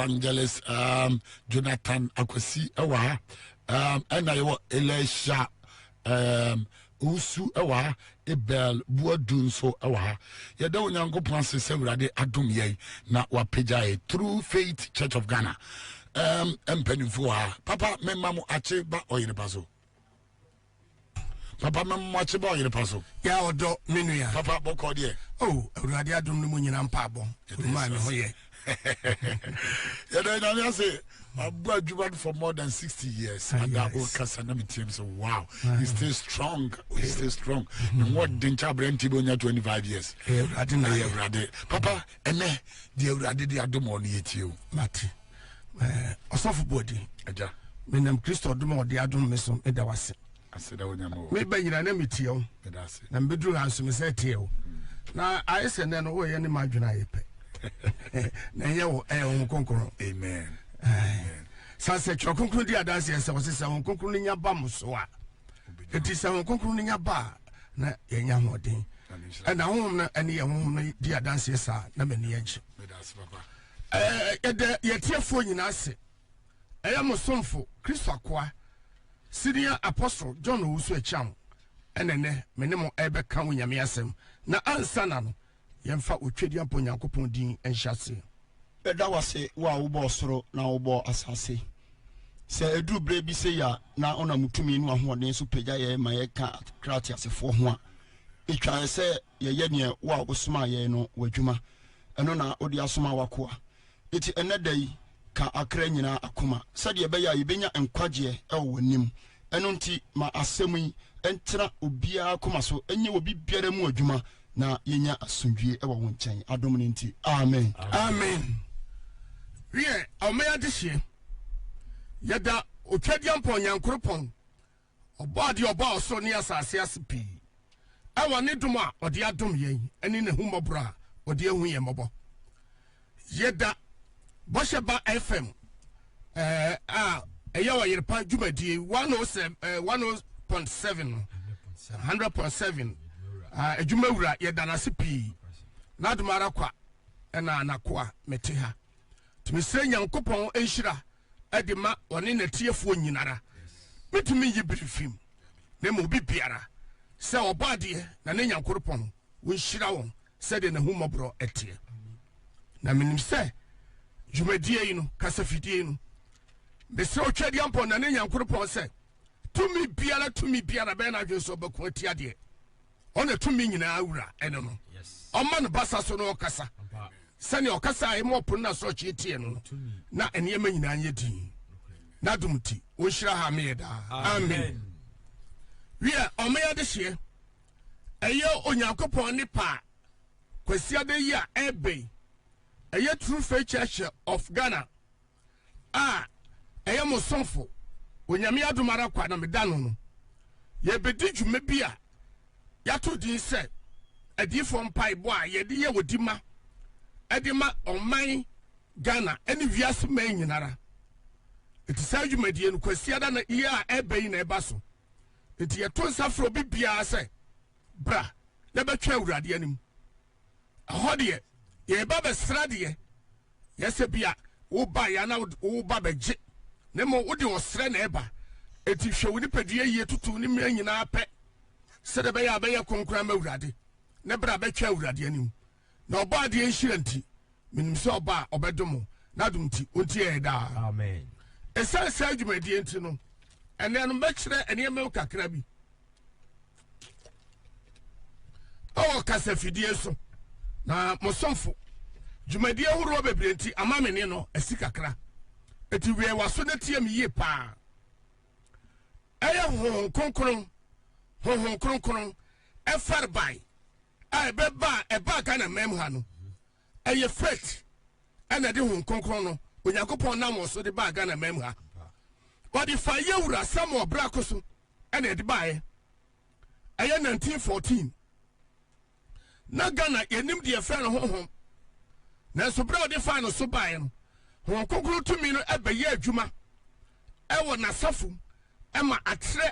evangelist um, jonathan akwasi ɛwɔ ha um, ɛna yɛwɔ elisha um, owusu ɛwɔ ha ebel buadu nso ɛwɔ ha yɛda onyankopɔn ase sɛ awurade adom yɛn na wapagya yɛ through faith church of ghana um, mpanimfoɔ ha papa mema mo akye ba ɔyereba so papa mɛ mo akyi bɔ ɔyere pa so. yà ɔdɔ mi nu ya. papa bɔ kɔ deɛ. o oh, awurade adum ni mu nyina mpa abɔ maa mi ho yɛ. yɛdɛ nyame ase abu adwuma for more than sixty years ah, ada o kasa na mi tiɛ mi sɛ wow ah. he stay strong he stay strong ne ho ɔden kyɛ abirɛ nti bi o nya twenty five years. ɛyɛ awurade na yɛ awurade papa ɛnɛ di awurade di adum ɔni yɛ tie o. Eh, ɔsɔfo bɔdi agya menam kristo ɔdom a ɔde adom me so meda wo ase meba nyina na metie wo na mebɛduru ha nso me sɛ teɛ wo na ayɛ sɛ nnɛ no woyɛ ne madwene ayɛ pɛ na ɛyɛ wo ɛyɛ wo kronkron sane sɛ twerɛ kronkron di adanseɛ sɛ ɔse sɛ wo kronkron no nya ba mo so a ɛti sɛ wo kronkron no nya ba a na yɛnya hoɔden ɛna honhom no ɛne yɛ honhom no di adanseɛ saa na m'ani agye Yɛda yɛn atiefoɔ nyinaa ase. Ɛyɛ mo somfo Kristo akoa Senior Apostle John Owusu Akyang ɛna ɛnɛ me ne mo ɛbɛka wo nyame asɛm na ansa na no yɛmfa otwadi abɔ Nyankopɔn din nhyɛ aseɛ. Yɛda wo ase wo a wobɔɔ soro na wobɔɔ asase. Sɛ ɛduru berɛ bi sei a na wonam wo tumi ne w'ahoɔden so pagya yɛn ma yɛka kra ateasefoɔ ho a, ɛtwaɛ sɛ yɛyɛ deɛ wo a wosomaa yɛn no w'adwuma, ɛno na wode asoma w'akoa. Enti ɛnnɛ da yi, ka akra nyinaa akoma, sɛdeɛ ɛbɛyɛ a yɛbɛnya nkwagyeɛ wɔ w'anim. Ɛno nti, ma asɛm yi ntena obiara akoma so, ɛnyɛ wɔ biribiara mu adwuma, na yɛnya asomdwoeɛ wɔ wo nkyɛn, adom no nti. Amen. Amen. Wiɛ, Awomɛyɛ adehyeɛ, yɛda Otwadiampɔn Nyankoropɔn. Ɔbɔadeɛ a ɔbɔɔ ɔsoro ne asase ase pii wɔ ne dom a ɔde adom yɛn ne n'ahummɔborɔ a ɔde ahu yɛn mmɔbɔ. Yɛda Bɔhyɛ Ba FM eh, a ɛyɛ ɔyerepa dwumadie 100.7 no 100.7 adwuma wura yɛda no ase pii n'adom ara kwa ɛna anakoa mete ha nti mesrɛ nyankopɔn nhyira ɛde ma ɔne n'atiefoɔ nyinara. Mentumi nyi biri mfiri mu, na mmom obi biara, sɛ ɔbɔ adeɛ na ne Nyankoropɔn nhyira wɔn sɛdeɛ n'ahummɔborɔ teɛ. Na menim sɛ dwumadie yi no, kasafidie yi no, mesrɛ Otwadiampɔ na ne Nyankoropɔn sɛ, tumi biara, tumi biara bɛyɛ n'adwene sɛ ɔbɛko atia deɛ. ɔne tumi nyinaa wura ɛne no ɔma no basa so na ɔkasa sɛnea ɔkasa a ɛma ɔpono no asorɔkye teɛ no na nneɛma nyinaa nyɛ din n'adom nti wɔnhyira ha meyɛ daa amen wiɛ ɔmeyɛ de hyeɛ ɛyɛ onyankopɔn ne paa kwasiada yi a ɛbɛn ɛyɛ true faith church of ghana a ɛyɛ mo sɔfo, Onyame adom ara kwa na meda no no, yɛrebedi dwuma bi a yɛato din sɛ Adiyifoɔ Mpaebɔ a yɛde yɛ odi ma de ma ɔman Ghana ne wiase man nyinara. Enti saa dwumadie no Kwasiada na yi a ɛreba yi na ɛba so. Enti yɛto nsa frɛ obi biara sɛ bra na bɛtwɛn Awurade anim Ɛhɔ deɛ, yɛreba bɛsra deɛ. Nyɛ sɛ bi a wobaeɛ a na woreba bɛgye, na mmom wode ɔsrɛ na ɛba. Enti hwɛ wo nipadua yie toto wo ne mmea nyinaa pɛ, sɛdeɛ ɛbɛyɛ a bɛyɛ kronkron ama Awurade, ne berɛ a bɛtwa Awurade anim. Na ɔbɔ adeɛ nhyira nti, menim sɛ ɔba a ɔbɛdom mo, n'adom nti, ɔntie yɛn daa. Amen. Ɛsiane saa dwumadie nti no, ɛnnɛ no mɛkyerɛ nneɛma mu kakra bi. ɛwɔ kasafidie so na mo somfo dwumadie horoɔ bebree nti ama me ne no asi kakra eti wei waso na tie me yie paa ɛyɛ honhom kronkron honhom kronkron ɛfɛrbae a ɛbɛba ɛbaa ghana mɛm ha no Ɛyɛ faith ɛna ɛde hon kronkron no Onyankopɔn nam wɔn so de baa Ghana man mu ha. Wɔde fa yɛ wura Samuel Brako so ɛna ɛde baeɛ. Ɛyɛ 1914. Na Ghana yɛnim deɛ fɛ no honhom. Nanso berɛ a wɔde fa no so baeɛ no, hon kronkron tumi no ɛbɛyɛ adwuma ɛwɔ n'asafo ɛma atrɛ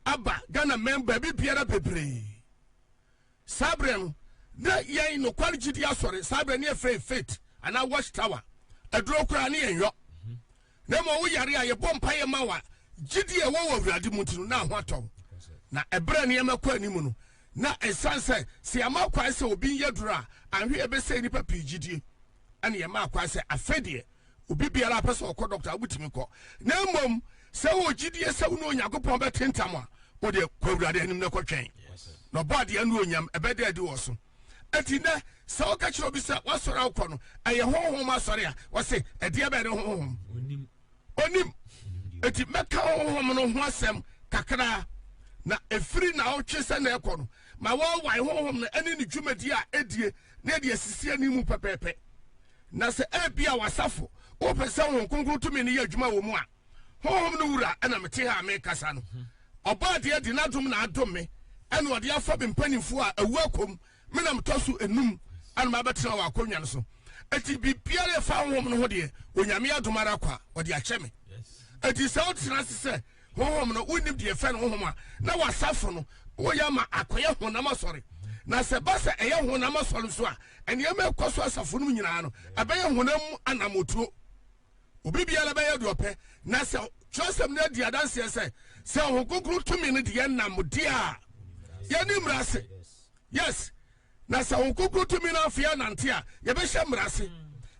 aba Ghana man baabi biara bebree. Saa berɛ no, na yɛn Nokware Gyidie Asɔre, saa berɛ no yɛfrɛ yɛn Faith anaa Watch Tower, aduro koraa ne yɛn yɔ. Na mmom wo yare a, yɛbɔ mpaeɛ ma wo a, gyidie a ɛwɔ wɔ Awurade mu nti no, na ho atɔ wo. Na ɛberɛ a nneɛma kɔ anim no, na ɛsiane sɛ sɛ yɛama kwan sɛ obi nyɛ aduro a, anhwɛ yɛbɛsɛe nnipa pii gyidie. ɛna yɛma akwan sɛ afei deɛ obi biara apɛ sɛ ɔkɔ dɔkta wobɛtumi kɔ na mmom sɛ wɔ gyidie sɛ wo ne onyankopɔn bɛte ntam a wodeɛ kɔ awurade anim na kɔtwɛn na ɔbɔ adeɛ no onyam ɛbɛda adi wɔ so ɛti nɛ sɛ woka kyerɛ obi sɛ woasɔre a wokɔ no ɛyɛ honhom asɔre a wɔse ɛdeɛ bɛɛ ne honhom onim ɛti mɛka honhom no ho asɛm kakraa na ɛfiri na wotwe sɛ na ɛkɔ no ma wɔwae honhom no ɛne ne dwumadi a ɛdie na ɛde asisi ani mu pɛpɛɛpɛ. Na sɛ ebia w'asafo wopɛ sɛ Honhom Kronkron tumi no yɛ adwuma wɔ mu a, Honhom no Wura na mete ha a merekasa no. Ɔbɔ adeɛ de n'adom na adom me, ɛna ɔde afa me mpanimfoɔ a awu akɔ mu, me na metɔ so enum a na mabɛtena wɔ akonnwa no so. Enti biribiara a ɛfa Honhom no ho deɛ, Onyame adom ara kwa, ɔde akyɛ me. Enti sɛ wotena ase sɛ Honhom no, wonnim deɛ yɛfrɛ no honhom a, na w'asafo no woyɛ ama akɔyɛ honam asɔre. Na sɛ ɛba sɛ ɛyɛ honam asɔre nso a, nneɛma a ɛkɔ so asafo no mu nyinaa no, ɛbɛyɛ honam mu anammotuo. Obi biara bɛyɛ deɛ ɔpɛ. Na sɛ Twerɛsɛm no adi adanseɛ sɛ, sɛ Honhom Kronkron tumi no deɛ nam deɛ a yɛne mmara ase. Yes. Na sɛ Honhom Kronkron tumi no amfa yɛn anante a, yɛbɛhyɛ mmara ase.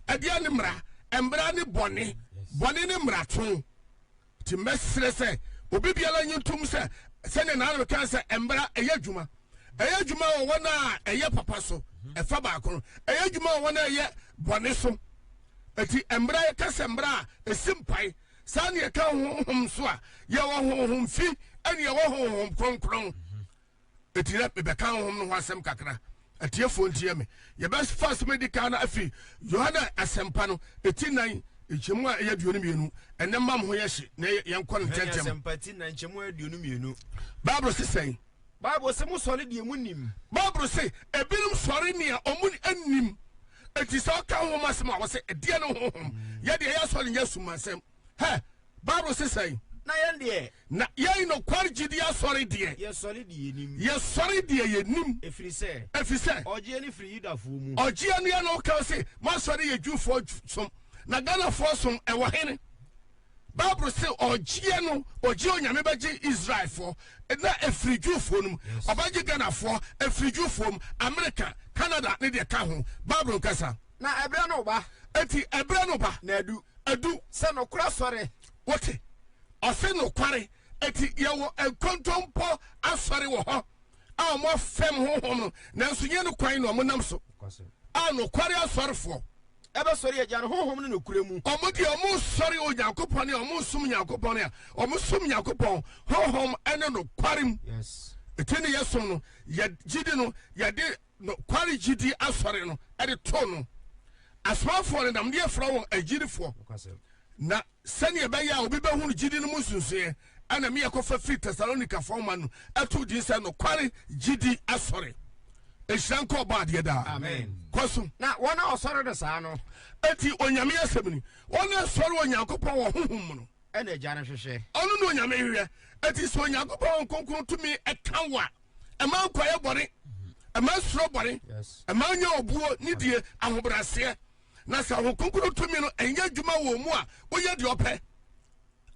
Ɛdeɛn ne mmara? Mmara ne bɔne. Bɔne ne mmarato. Nti mɛsrɛ sɛ obi biara nye ntom sɛ, sɛnea Naana bɛkae sɛ, Mmara ɛyɛ adwuma. Ɛyɛ adwuma wɔ wɔn a ɛyɛ papa so, ɛfa baako no. Ɛyɛ adwuma wɔ wɔn a ɛyɛ bɔne so. Nti mmara, yɛka sɛ mmara a, ɛsi mpae. Saa na yɛka honhom nso a, yɛwɔ honhom fi, ɛne yɛwɔ honhom kronkron. eti dɛ mebɛka honhom no ho asɛm kakra. Atiefoɔ ntie me. Yɛbɛfa asɛm a edi kan no afiri Yohane Asɛmpa no, eti nnan, nkyɛmu a ɛyɛ aduonu mmienu. Ɛnnɛ mma mo ho yɛ hye, na yɛnkɔ no ntɛmntɛm. Yohane Asɛmpa ti nnan, nkyɛmu a ɛyɛ aduonu mmienu. Bible se sɛn? Bible se, Mosɔre deɛ monim. Bible se, Ebinom sɔre nea wɔnim. Enti sɛ wɔka honhom asɛm a, wɔse, Ɛdeɛn ne honhom? Yɛn deɛ, yɛn asɔre nyɛ asumansɛm. Hɛ! Bible se sɛn? Na yɛn deɛ. Na yɛn nokware gyidie asɔre deɛ. Yɛsɔre deɛ yɛnim. Yɛsɔre deɛ yɛnim. Ɛfiri sɛ. Ɛfiri sɛ. Ɔgyeɛ no firi Yudafoɔ mu. Ɔgyeɛ no yɛ na ɔka se moasɔre yɛ Jewfoɔ som. Na Ghanafoɔ som ɛwɔ hene? Bible se ɔgyeɛ no ɔgye Onyame bɛgye Israelfoɔ na ɛfiri Jewfoɔ no mu. Ɔbɛgye Ghanafoɔ ɛfiri Jewfoɔ mu, America, Canada ne deɛ ka ho. Bible nkasa. Na ɛberɛ no reba. Enti ɛberɛ no ba. Na adu. Adu. Sɛ nokorɛ asɔre. Wote? Ɔse nokware. Enti yɛwɔ nkontompo asɔre wɔ hɔ a wɔn afɛm honhom no, nanso nyɛ no kwan na wɔnam so, a nokware asɔrefoɔ. Bɛsɔre Agya no honhom ne nokorɛ mu. Wɔn deɛ wɔnsɔre Onyankopɔn ne wɔnsom Nyankopɔn a, wɔsom Nyankopɔn honhom ne nokware mu. Enti ne yɛsom no, yɛn gyidi no, yɛde. nokware gyidi asɔre no de too no. Asomafoɔ no nam deɛ frɛ wɔn agyidifoɔ, na sɛdeɛ ɛbɛyɛ a obi bɛhunu gyidi no mu nsunsueɛ ɛna me yɛkɔfa firi Tesalonikafoɔ nwoma no ɛtoo din sɛ nokware gyidi asɔre. Nhyira nkɔ ɔbɔ adeɛ daa. Amen. Kɔ so. Na wɔn a wɔsɔre no saa no. Eti Onyame asɛm ni, wɔn a ɛsɔre Onyankopɔn wɔ honhom mu no. Ɛna Agya no hwehwɛ. Ɔno na Onyame hwehwɛ. Eti sɛ Onyankopɔn Honhom Kronkron tumi ka wo a. ɛma nkwaeɛ bɔne ɛma nsuro bɔne ɛma nya obuo ne die ahobraseɛ na sɛ ahokonkoro tumi no ɛnyɛ adwuma wɔ mu a woyɛ deɛ ɔpɛ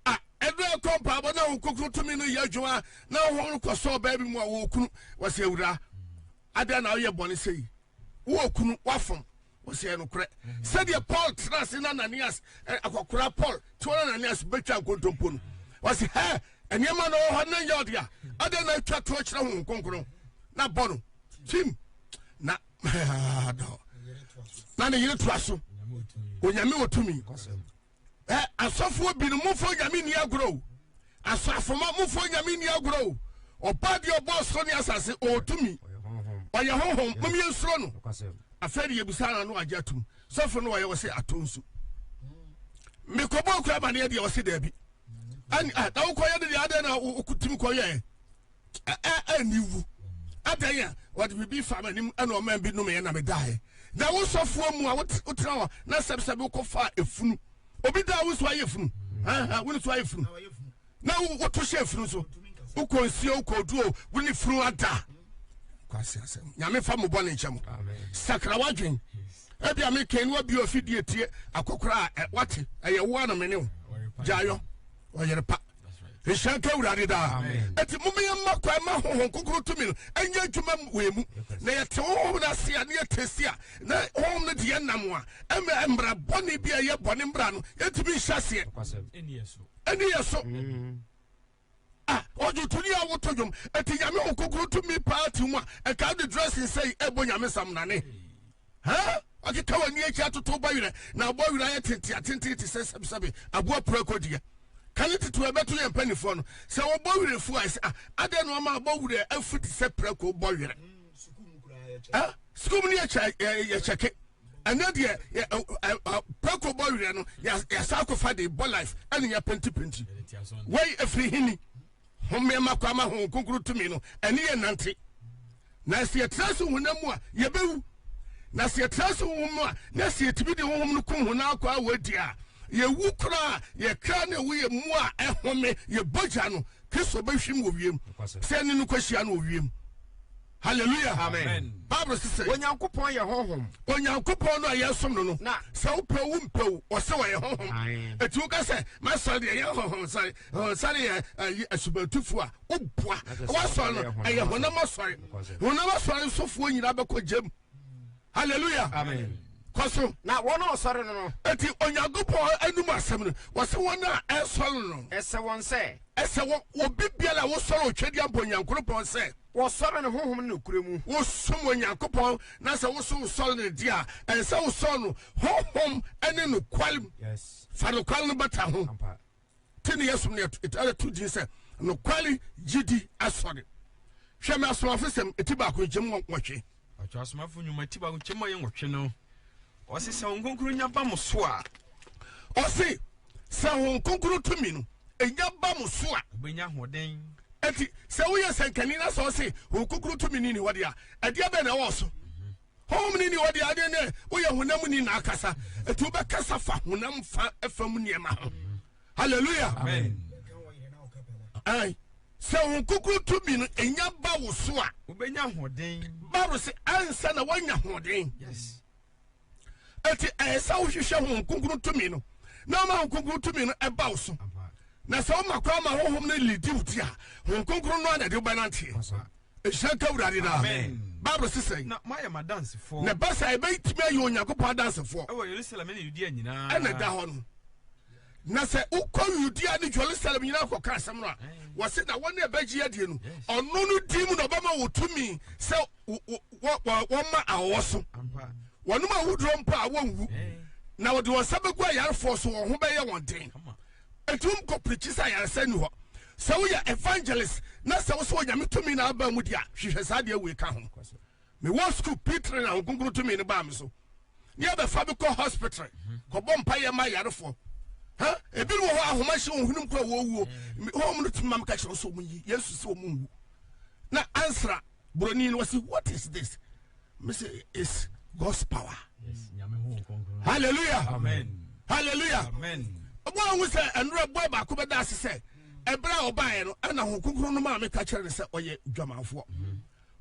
a ɛdɛ ɛkɔ mpaabɔ na ahokonkoro tumi no yɛ adwuma na ɔhɔ no kɔsɔ ɔbaa bi mu a wɔkunu wɔsɛ awura adɛn na woyɛ bɔne sɛ yi wowɔ kunu wafom wɔsɛɛ nokorɛ sɛdeɛ paul tena ase na ananias eh, akɔkora paul tewa na ananias bɛtwa nkontompo no wɔse hɛ nneɛma na ɔwɔ hɔ ne yɛ ɔde a adɛn na atwa toɔ kyerɛ ho nkonkron na bɔ no tim na na ne yere toa so onyame wɔ tumi Ɛ, asɔfoɔ binom, momfa Onyame nni agorɔ o. Asɔafoma, momfa Onyame nni agorɔ o. Ɔbaa deɛ ɔbɔɔ ɔsoro ne asase, ɔwɔ tumi. Ɔyɛ Honhom, mom yɛnsuro no. Afei de yɛbisa no ano agye atom. Sɔfo no wɔyɛ, ɔse ato nsu. Mekɔbɔɔ kura amaneɛ deɛ, ɔse daabi. Ɛn, a, na wokɔyɛ no deɛ, adɛn na wotumi kɔyɛɛ? ɛni wu adan a wɔde biribi fa m'anim ɛna ɔman bi nomeɛ na medaeɛ na wo sɔfoɔ mu a wotena hɔ na sɛbsɛbe wokɔfa efunu obi daa wo nso ayɛ funu wo nso ayɛ funu na woto hyɛ funu so wokɔ nsuo wokɔ oduo wo ne funu ada kwasi asɛm nyame fa mo bɔne nkyɛ mo sakra wadwen ebi a mekɛn wa bi ofidie tie akɔkora a wate ɛyɛ wo a na mene wo gyaayɔ ɔyere pa ɛhyira nka awurade daa ɛti momeyɛ mma kwan ma honhom kokoro tumi no ɛnyɛ adwuma wei mu na yɛte honhom no ase a ne yɛtɛsi a na honhom no deɛ nam a ɛmɛ mmara bɔne bi a ɛyɛ bɔne mmara no yɛtumi nhyɛ aseɛ ɛne yɛ so mm. ah, ɔdwo tuni a woto dwom ɛti nyame ho kokoro tumi paa ti mu a ɛka wode dressing sɛi ɛbɔ nyame samnane Hɛn akeka wɔ nyia ekyir atotow ba werɛ, na abɔ werɛ ayɛ tsentsee atsentsen te sɛ sɛbesɛbe abowa prako deɛ. Ka ne titiriw a ɛbɛto yɛn mpanimfoɔ no. Sɛ wɔbɔ werɛ afu a, yɛsɛ, Ah, adɛn na wɔma abɔ werɛ afu te sɛ prako bɔ werɛ? Ɛ? Sukuu mu no yɛkyɛ, yɛkyɛke. Ɛnɛ deɛ, yɛ, ɛ, ɛ, prako bɔ werɛ no, yɛasa akɔfa de bɔ life, ɛne yɛpentipenti. Wei ɛfiri hini? Hom mma kwan ma honhom kronkron tumi no ne yɛn nnante. Na sɛ yɛtra so honam mu a, yɛbɛwu. Na sɛ yɛtra so honhom mu a, na sɛ yɛtumi de honhom no kum honam akwaa wɔ adi a, yɛwu koraa. Yɛn kra na ɛwɔ yɛn mu a ɛhome, yɛn bɔgya no, Kristo bɛhwim wɔ wiem. Sɛ ɛne no kɔhyia no wɔ wiem. hallelujah amen bible sɛ sɛ onyankopɔn yɛ honhom onyankopɔn no a yɛsom no no na sɛ wopɛ wo mpɛ wo ɔsɛ wɔyɛ honhom ɛti woka sɛ masɔre deɛ ɛyɛ honhom sɔre sɔre yɛ ayi asubantufoɔ a woboa wasɔre no ɛyɛ honam asɔre honam asɔre nsofoɔ nyinaa bɛkɔ gyam hallelujah amen kɔ so. na wɔn a wɔsɔre no no. eti onyankopɔn anum asɛm no wɔsɛ wɔn a ɛsɔre no. ɛsɛ wɔn sɛ. ɛsɛ wɔn obi biara a wɔsɔre otwadi abɔ onyankopɔn sɛ. wɔsɔre no honhom ne nokura mu. wosom onyankopɔn na sɛ woso wosɔre no di a ɛsɛ wosɔre no honhom ne nokware mu. yes. fa nokware no bata ho. te ne yɛsom no ɛtɛ to din sɛ nokware gyidi asɔre hwɛ me asomafo sɛm ɛti baako nkyɛm wɔhwe ɔtwa asomafo nnwuma ɛti baako nkyɛm ayɛ nwɔtwe no ɔse sɛ wɔn nkonkuru nya ba mo so a ɔse sɛ wɔn nkonkuru tumi no ɛnya ba mo so a wobɛnya ahoɔden ɛti sɛ woyɛ sɛnkani na sɛ ɔse wɔn nkonkuru tumi no ni hɔ deɛ a ɛdeɛ bɛn na ɛwɔ so Honhom ni ni hɔ deɛ adeɛ ne woyɛ honam ni na akasa ɛti wobɛkasa fa honam fa ɛfam nneɛma ho hallelujah ɛn sɛ wo kukuru tumi no ɛnya ba wo so a wobɛnya hoɔden bible sɛ ansa na woanya hoɔden ɛti ɛyɛ sɛ wohwehwɛ ho kukuru tumi no na ɔma ho kukuru tumi no ɛba wo so na sɛ woma kora ma honhom no lidi wo ti a ho kukuru no a na ɛde wobɛnanteɛ nhyira nka awurade no bible se sɛn na moayɛ m'adansefoɔ na ɛba saa ɛbɛtumi ayɛ onyankopɔn adansefoɔ ɛwɔ yerusalem ne yudea nyinaa ɛna ɛda hɔ no na sɛ wokɔ yudea ne jerusalem nyinaa kɔka asɛm no a wɔse na wɔne ɛbɛgye adie no ɔno no din mu na ɔbɛma wo tumi sɛ wɔma awɔ so wɔnom awoduro mpo a wɔnwu na wɔde wɔn nsa bɛgu ayarefoɔ so wɔn ho bɛyɛ wɔn den Ɛtum kɔ prikyi sɛ ayaresa nni hɔ. Sɛ woyɛ evangelist na sɛ wosɛ Onyame tumi na aba mu di a, hwehwɛ saa deɛ wei ka ho. Me wɔ school pitre na Honkonkron tumi no baa me so. Ne yɛ bɛfa me kɔ hospitre kɔ bɔ mpa yɛ ma ayarefoɔ. Ha, ebi no wɔ hɔ ahoma hyɛ wɔn hwenem kura wɔn wuo. Home no tumi ma me ka kyerɛ sɛ wɔn yi Yesu sɛ wɔn nwu. Na ansra. buroni no ɔsi what is this me se it's God's power hallelujah amen hallelujah amen ɔbɔ ahu sɛ ɛnura bɔ baako bɛ da ase sɛ ɛbɛrɛ a ɔbaayɛ no ɛna ho kunkun no maame ka kyerɛ ne sɛ ɔyɛ dwamanfoɔ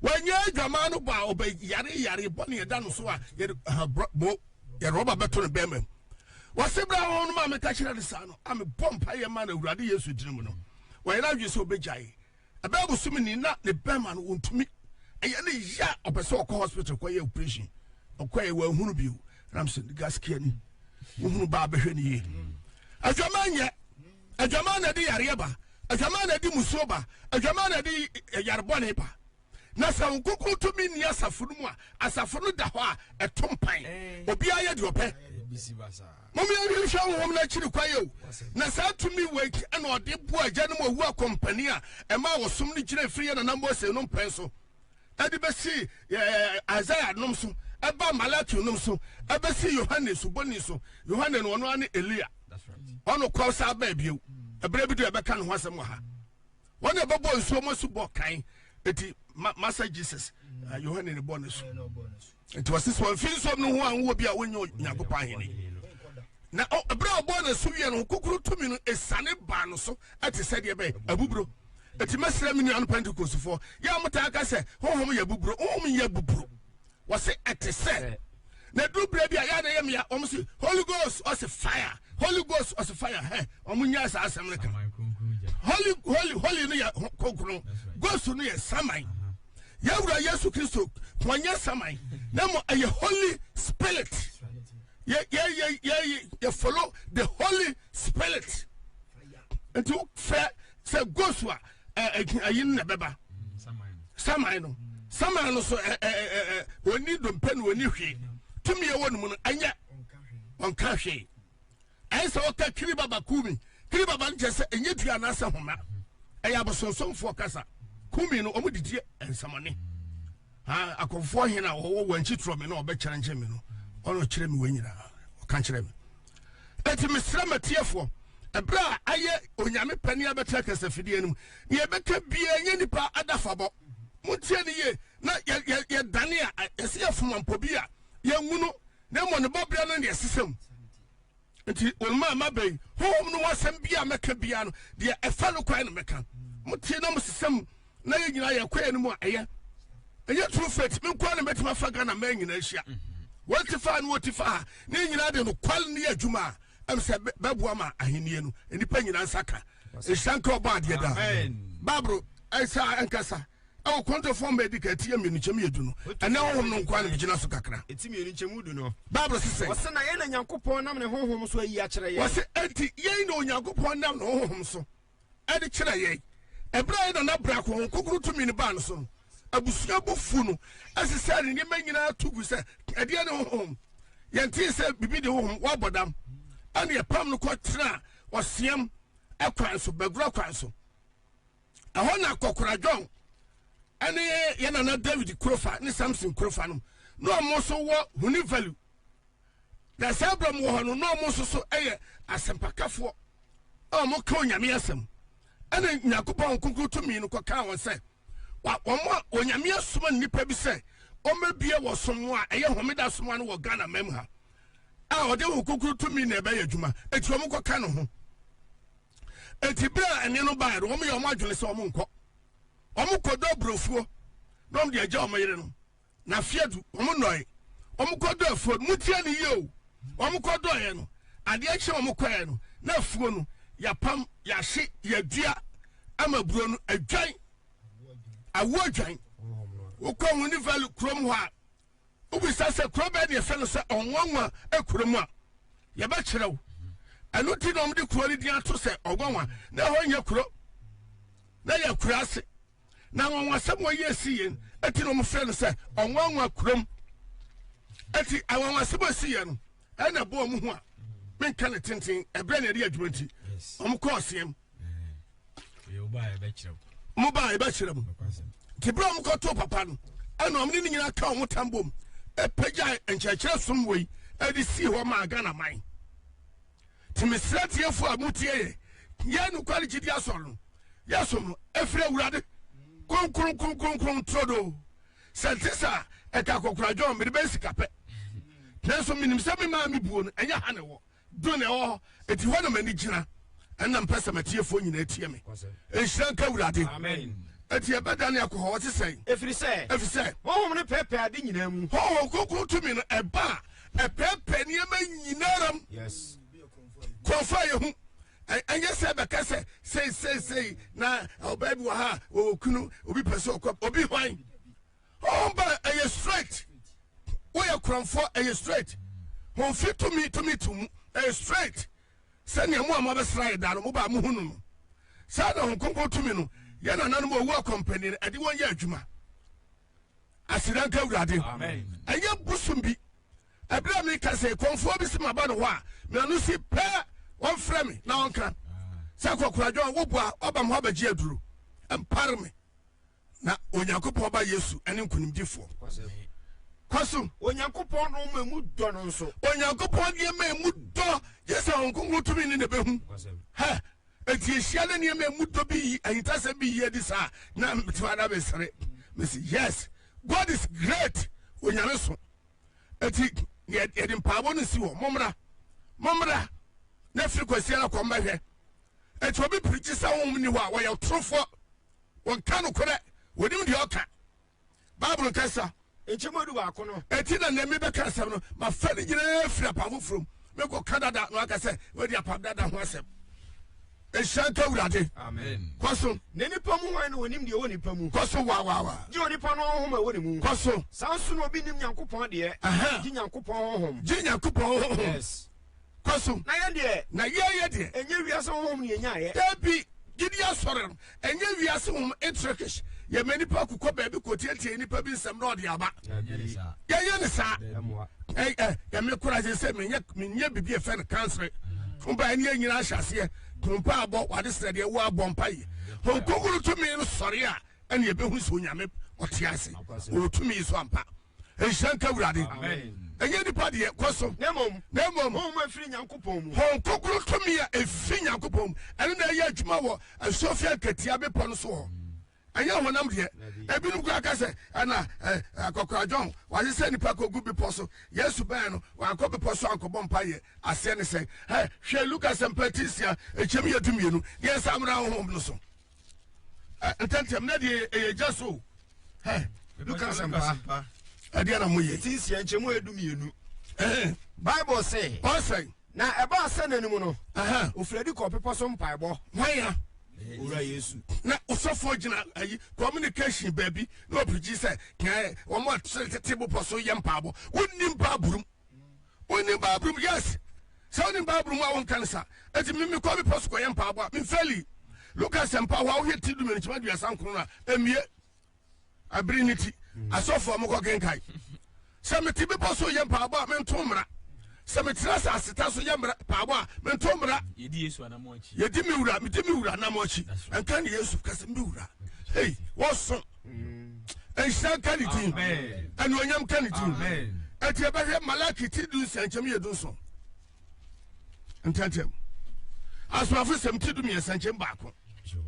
wɔnyɛ dwaman no bɔ a ɔbɛ yare yare bɔ ne yɛda no so a yɛde ha bɔ yɛde rɔba bɛto ne bɛrima mu wɔsi bɛrɛ ho no maame ka kyerɛ ne saa no a mebɔ mpa yɛ ma na awurade yesu dini mu no wɔyɛ n'adwi sɛ ɔbɛgya yi. ɛbɛyɛ bosome ni na ne bɛrima no wɔntumi ɛyɛ ne yia ɔpɛ sɛ ɔkɔ hospital kɔyɛ operation ɔkɔɛ wɔahunu bio nam sɛ gaskia ni wohunu baa bɛhwɛ ne yie adwama nyɛ adwama na ɛde yareɛ ba adwama na ɛde musuo ba adwama na ɛde eh, yarebɔne ba na sɛ wo kokoro tumi nni asafo no mu a asafo no da hɔ a ɛto mpan eh. obiara yɛ deɛ ɔpɛ eh, Mom yɛ nhwɛ nhwɛ honhom no akyiri kwan yɛ o, na saa tumi wei nti na ɔde boa agya no mu owu akɔmpanin a ɛmaa ɔsom no gyinai firi yɛn nana Mose nom pɛn so ɛde bɛsii ɛɛ Isaiah nom so ɛbaa Malachi nom so ɛbɛsii Yohane suboni so, Yohane no ɔno ara ne Elia, ɔno kɔɔ saa bɛɛ bio, ɛberɛ bi do ɛbɛka ne ho asɛm wɔ ha. wɔn na ɛbɛbɔ nsuo mu asubɔ kan eti ma masa jesus uh, yohane ne bɔ ne so nti wɔsi sɛ wɔnfi nsuo mu no ho a nwɔ bi a wɔnyɛ nyankopɔn ahene na ɛberɛ a ɔbɔɔ no asu wiɛ no kokoro tumi no ɛsane baa no so ɛte sɛ deɛ bɛyɛ abuburo ɛti mɛsrɛ me nuano pentecostefoɔ yɛ a motaa ka sɛ honhom yɛ abuburo honhom yɛ abuburo Wɔse ɛte sɛ na ɛduru berɛ bi a yɛ a na ɛyɛ mmea wɔn se holy ghost ɔse fire holy ghost ɔse fire hɛ wɔn nyaa saa asɛm no ka holy holy holy no yɛ kronkron ghost no yɛ saman yɛwura yesu kristo wɔn nyɛ saman na mmɔ ɛyɛ holy spirit yɛ yɛ yɛ yɛ yɛ follow the holy spirit nti wofɛ sɛ ghost a ayi no na ɛbɛba saman no saman no so ɔni dompe no ɔni hwee tumi ɛwɔ no mu no ɛnyɛ ɔnka hwee ɛyɛ sɛ ɔka kiri baba kumi kiri baba no kyɛ sɛ ɛnyɛ dua anaasɛ homa ɛyɛ abosonsomfoɔ kasa kumi no ɔmo didi nsɛmɔne akɔfoɔ hena ɔwɔ wɔn akyi torɔ me na ɔbɛkyerɛnkyerɛ me no ɔno kyerɛ me wɔn nyinaa ɔka kyerɛ me Enti mesrɛ m'atiefoɔ, ɛberɛ a ayɛ Onyame pɛ ne yɛbɛtra kasafidie no mu, deɛ yɛbɛka biara nyɛ nipa adafabɔ. Montie no yie na yɛdane a, yɛsɛ yɛfom ampɔ bi a, yɛnwu no, na mmom ne bɔberɛ no na yɛsesa mu. Enti wɔn a maba yi, Honhom no ho asɛm biara a mɛka biara no, deɛ ɛfa no kwan na mɛka. Motie na mosesa mu, na yɛ nyinaa yɛ kɔɛ no mu a ɛyɛ ɛnyɛ true faith me nkoa na mɛtumi afa ghana mmaa nyinaa ahyia wɔn ti fa ne wɔn ti fa ha ne nyinaa de no kwal ne yɛ adwuma a ɛm sɛ bɛboa ma ahennie no nnipa nyinaa nsa ka ɛhyira nka ɔbɔ adeɛ daa baaboro ɛsɛ a ɛnkasa ɛwɔ kɔntɔfoɔ ma ɛdi ka ɛti yɛ mmienu nkyɛm yɛ du no ɛnɛ honhom no nkoa na megyina so kakra ɛti mmienu nkyɛm du no baaboro sesɛ wɔsɛ na yɛn na nyankopɔn nam ne honhom so ayi akyerɛ yɛn wɔsɛ ɛnti yɛn na onyankopɔn nam ne honhom so de kyerɛɛ yɛn. Bere a yɛde nna biako honhonkonkron tumi no baa no so no, abusua bo fuw no, ɛsesaa ne nneɛma nyinaa tu gui sɛ, Ɛdeɛn ne honhom? Yɛntee sɛ biribi de honhom abɔ dam. Ɛnna yɛpam no kɔtenaa ɔseam kwan so, bagua kwan so. Ɛhɔ na Kɔkora John ne yɛn nana David Kurofa ne Samson Kurofa nom na wɔn nso wɔ Huni Valley Na saa binom wɔ hɔ no na wɔn nso so yɛ asɛmpakafoɔ a wɔka onyame asɛm ɛna nyankopɔn nkonkron tumi no kɔkaa wɔn sɛ wa wɔn a onyame asoma nnipa bi sɛ wɔmmɛbie wɔ som a ɛyɛ homeda som ano wɔ ghana mam ha a ɔde wɔn nkonkron tumi na ɛbɛyɛ adwuma eti wɔn kɔka ne ho eti bere a ɛne no baeɛ no wɔn yɛ wɔn adwene sɛ wɔn nkɔ wɔn kɔdɔ aburofuo na wɔn de agya wɔn yere no Na afe adu, wɔn nnɔɔe. Wɔn kɔdɔ afuo no. Motie no yie o. Wɔn kɔdɔɔeɛ no, adeɛ kye wɔn kɔeɛ no, na afuo no, yɛapam, yɛahye, yɛadua ama aburo no adwan, awo adwan. Wokɔ Wunivali kurom hɔ a, wobisa sɛ kuro bɛɛ ne yɛfɛ no sɛ Ɔnwanwa kurom a, yɛbɛkyerɛ wo. Ɛno nti na wɔde kuro no din ato sɛ Ɔnwanwa. Na ɛhɔ nyɛ kuro, na yɛ akuraase. na anwanwasɛm wɔ yɛ si yɛn ɛti na wɔn frɛ no sɛ ɔnwanwa kurom ɛti anwanwasɛm a si yɛn no ɛna ɛbɔ wɔn ho a menka ne tenten ɛbrɛ na ɛde adwuma nti wɔn kɔ ɔseɛm wɔn ba a ɛbɛkyerɛ mu nti berɛ a wɔn kɔ to papa no ɛna wɔn ne ne nyinaa ka wɔn tam bom ɛpɛgya nkyerɛkyerɛ som wɔ yi ɛde si hɔ maa ghana man Nti mesrɛ atiefo a motie yɛn, yɛn nokware gyidi asɔre no, yɛn som no, ɛfiri Awurade, kronkron, kronkron, kronkron, turodoo. Sɛ ɛnte saa a, ɛka akɔkora John, mede bɛyɛ sika pɛ. Nanso menim sɛ me maa me buo no, ɛnyɛ ha na ɛwɔ, John na ɛwɔ hɔ, eti hɔ na m'ani gyina. Ɛna mpɛ sɛ m'atiefo nyinaa tie me. Nhyira nka Awurade. Amen. Eti ɛbɛdane akɔ hɔ, ɔte sɛn? Ɛfiri sɛ, Ɛfiri sɛ. honhom no pɛɛpɛɛ ade nyinaa mu. Honhom kronkron tumi no ɛba a. ɛpɛɛpɛɛ nneɛma nyinara mu kurɔfo a yɛhu ɛnyɛ sɛ bɛka sɛ sei sei sei na ɔbaa bi wɔ ha wɔwɔ kunu obi pɛ sɛ ɔkɔ obi hwan ɔmba ɛyɛ straight woyɛ kurɔmfoɔ ɛyɛ straight homfi tumi tumi to mu ɛyɛ straight sɛnea mo a moabɛsra yɛ da no mobaa mohu no no saa na ho kronkron tumi no yɛ nananom ɔwu akɔmpani no ɛde wɔn yɛ adwuma aseda nka awurade ɛnyɛ bosom bi ɛberɛ a meka sɛ kɔmfoɔ bi se maba ne hɔ a meano si pɛ wɔmfrɛ me na ɔnka sɛ kɔkoradwa woboa ɔba me hɔ abɛgye aduro mpare me na onyankopɔn ba yesu ɛne nkonimdifoɔ kɔ so onyankopɔn no ma mu dɔ no nso onyankopɔn deɛ ma mu dɔ gye sɛ ɔnkonkro tumi ne ne bɛhu hɛ Enti ehyia ne nneɛma a emu dɔ bi yi ahintasɛm bi yi adi saa na mete hɔ na mesere. Mese, yes, God is great, Onyame so. Enti yɛ- yɛde mpaebɔ no si hɔ, mommra, mommra, na firi Kwasiada kɔ mmɛhwɛ. Enti obi pirikyi sɛ honhom nni hɔ a, ɔyɛ ɔtorofoɔ, ɔnka nokorɛ, ɔnim deɛ ɔka. Bible kasa. Nkyɛmu edu baako no. Eti na nea mebɛka asɛm no, mafa ne nyinaa firi apam foforɔ mu. Mekɔ Canada na waka sɛ wadi apam dada ho asɛm. Nhyira nka Awurade. Amen. Kɔ so. Ne nipa mu hwan na onim deɛ ɛwɔ nipa mu? Kɔ so waawaawa. Gye onipa no honhom a ɛwɔ ne mu. Kɔ so. Saa nso na obi nim Nyankopɔn deɛ. Gye Nyankopɔn honhom. Gye Nyankopɔn honhom. Yes. Kɔ so. Na yɛn deɛ. Na yɛn yɛ deɛ. Ɛnyɛ wiase honhom na yɛnyaeɛ. Dabi, gyidie asɔre no, ɛnyɛ wiase honhom, Intrikish, yɛma nnipa ku kɔ baabi kɔtiatia nnipa bi nsɛm na ɔde aba. Yɛnyɛ no saa. Ɛy, ɛ, yɛ me kora sɛ sɛ menyɛ, menyɛ biribi a ɛfɛ no kansere. Mpa ɛne yɛ nyina ahyɛ aseɛ, mpa abɔ, wade srɛ deɛ wo abɔ mpa yɛ. Honkonkuru tumi no sɔre a, ɛne yɛbɛhu sɛ onyame ɔte ase, ɔwɔ tumi so ampa. nhyira nka awurade ɛnyɛ nipa deɛ kɔ so na mmom honhom ɛfiri nyankopɔn mu hon kokoro tumi a ɛfiri nyankopɔn mu ɛno na ɛyɛ adwuma wɔ asofia nkatia bepɔ no so hɔ ɛnyɛ honam deɛ ebinom kora ka sɛ ɛna akɔkoradwɔn wɔagye sɛ nnipa kɔgu bepɔ so yesu bɛn no wankɔ bepɔ so ankɔbɔ mpa yɛ aseɛ ne sɛ hwɛ luka sɛmpa ti nsia ɛkyɛm yɛ dumienu deɛ nsa mmra honhom no so ntɛntɛm na deɛ ɛyɛ gya so hɛ luka asɛmpa ɛdeɛ na moyɛ ɛti nsia nkyɛ mu ɛdu mmienu bible se ɔsɛn na ɛbaa sɛ n'anim no ofiradi kɔ ɔpepɔ so mpaebɔ hwaya owura yesu na ɔsɔfoɔ gyina ayi communication baabi na ɔpirigyi sɛ kɛɛ wɔn a tete bopɔ so yɛ mpaabɔ wonni mpaaborom Wonim Bible mu? Yes. Sɛ wonim Bible mu a wonka no sa. Eti me mekɔ bepɔ so kɔyɛ mpaabɔ a mfeli. Luka sɛmpa hɔ a wohwɛ ti dumienu kyima duasa nkron no a emie. Abiri ne ti. Hmm. Asɔfo a mokɔ kenkae. Sɛ mete bepɔ so yɛ mpaabɔ a mento mmara. Sɛ metena asase ta so yɛ mmara paabɔ a mento mmara. Yedi Yesu anamɔ akyi. Yedi me wura, medi me wura anamɔ akyi. Nka ne Yesu kasa me wura. Hey, wɔso. nhyira nka ne din anuonyam nka ne din ɛti ɛbɛhwɛ malaki ti du nsia nkyɛm yɛ du nson ntɛntɛm asomafo sɛm ti du mmiɛnsa nkyɛm baako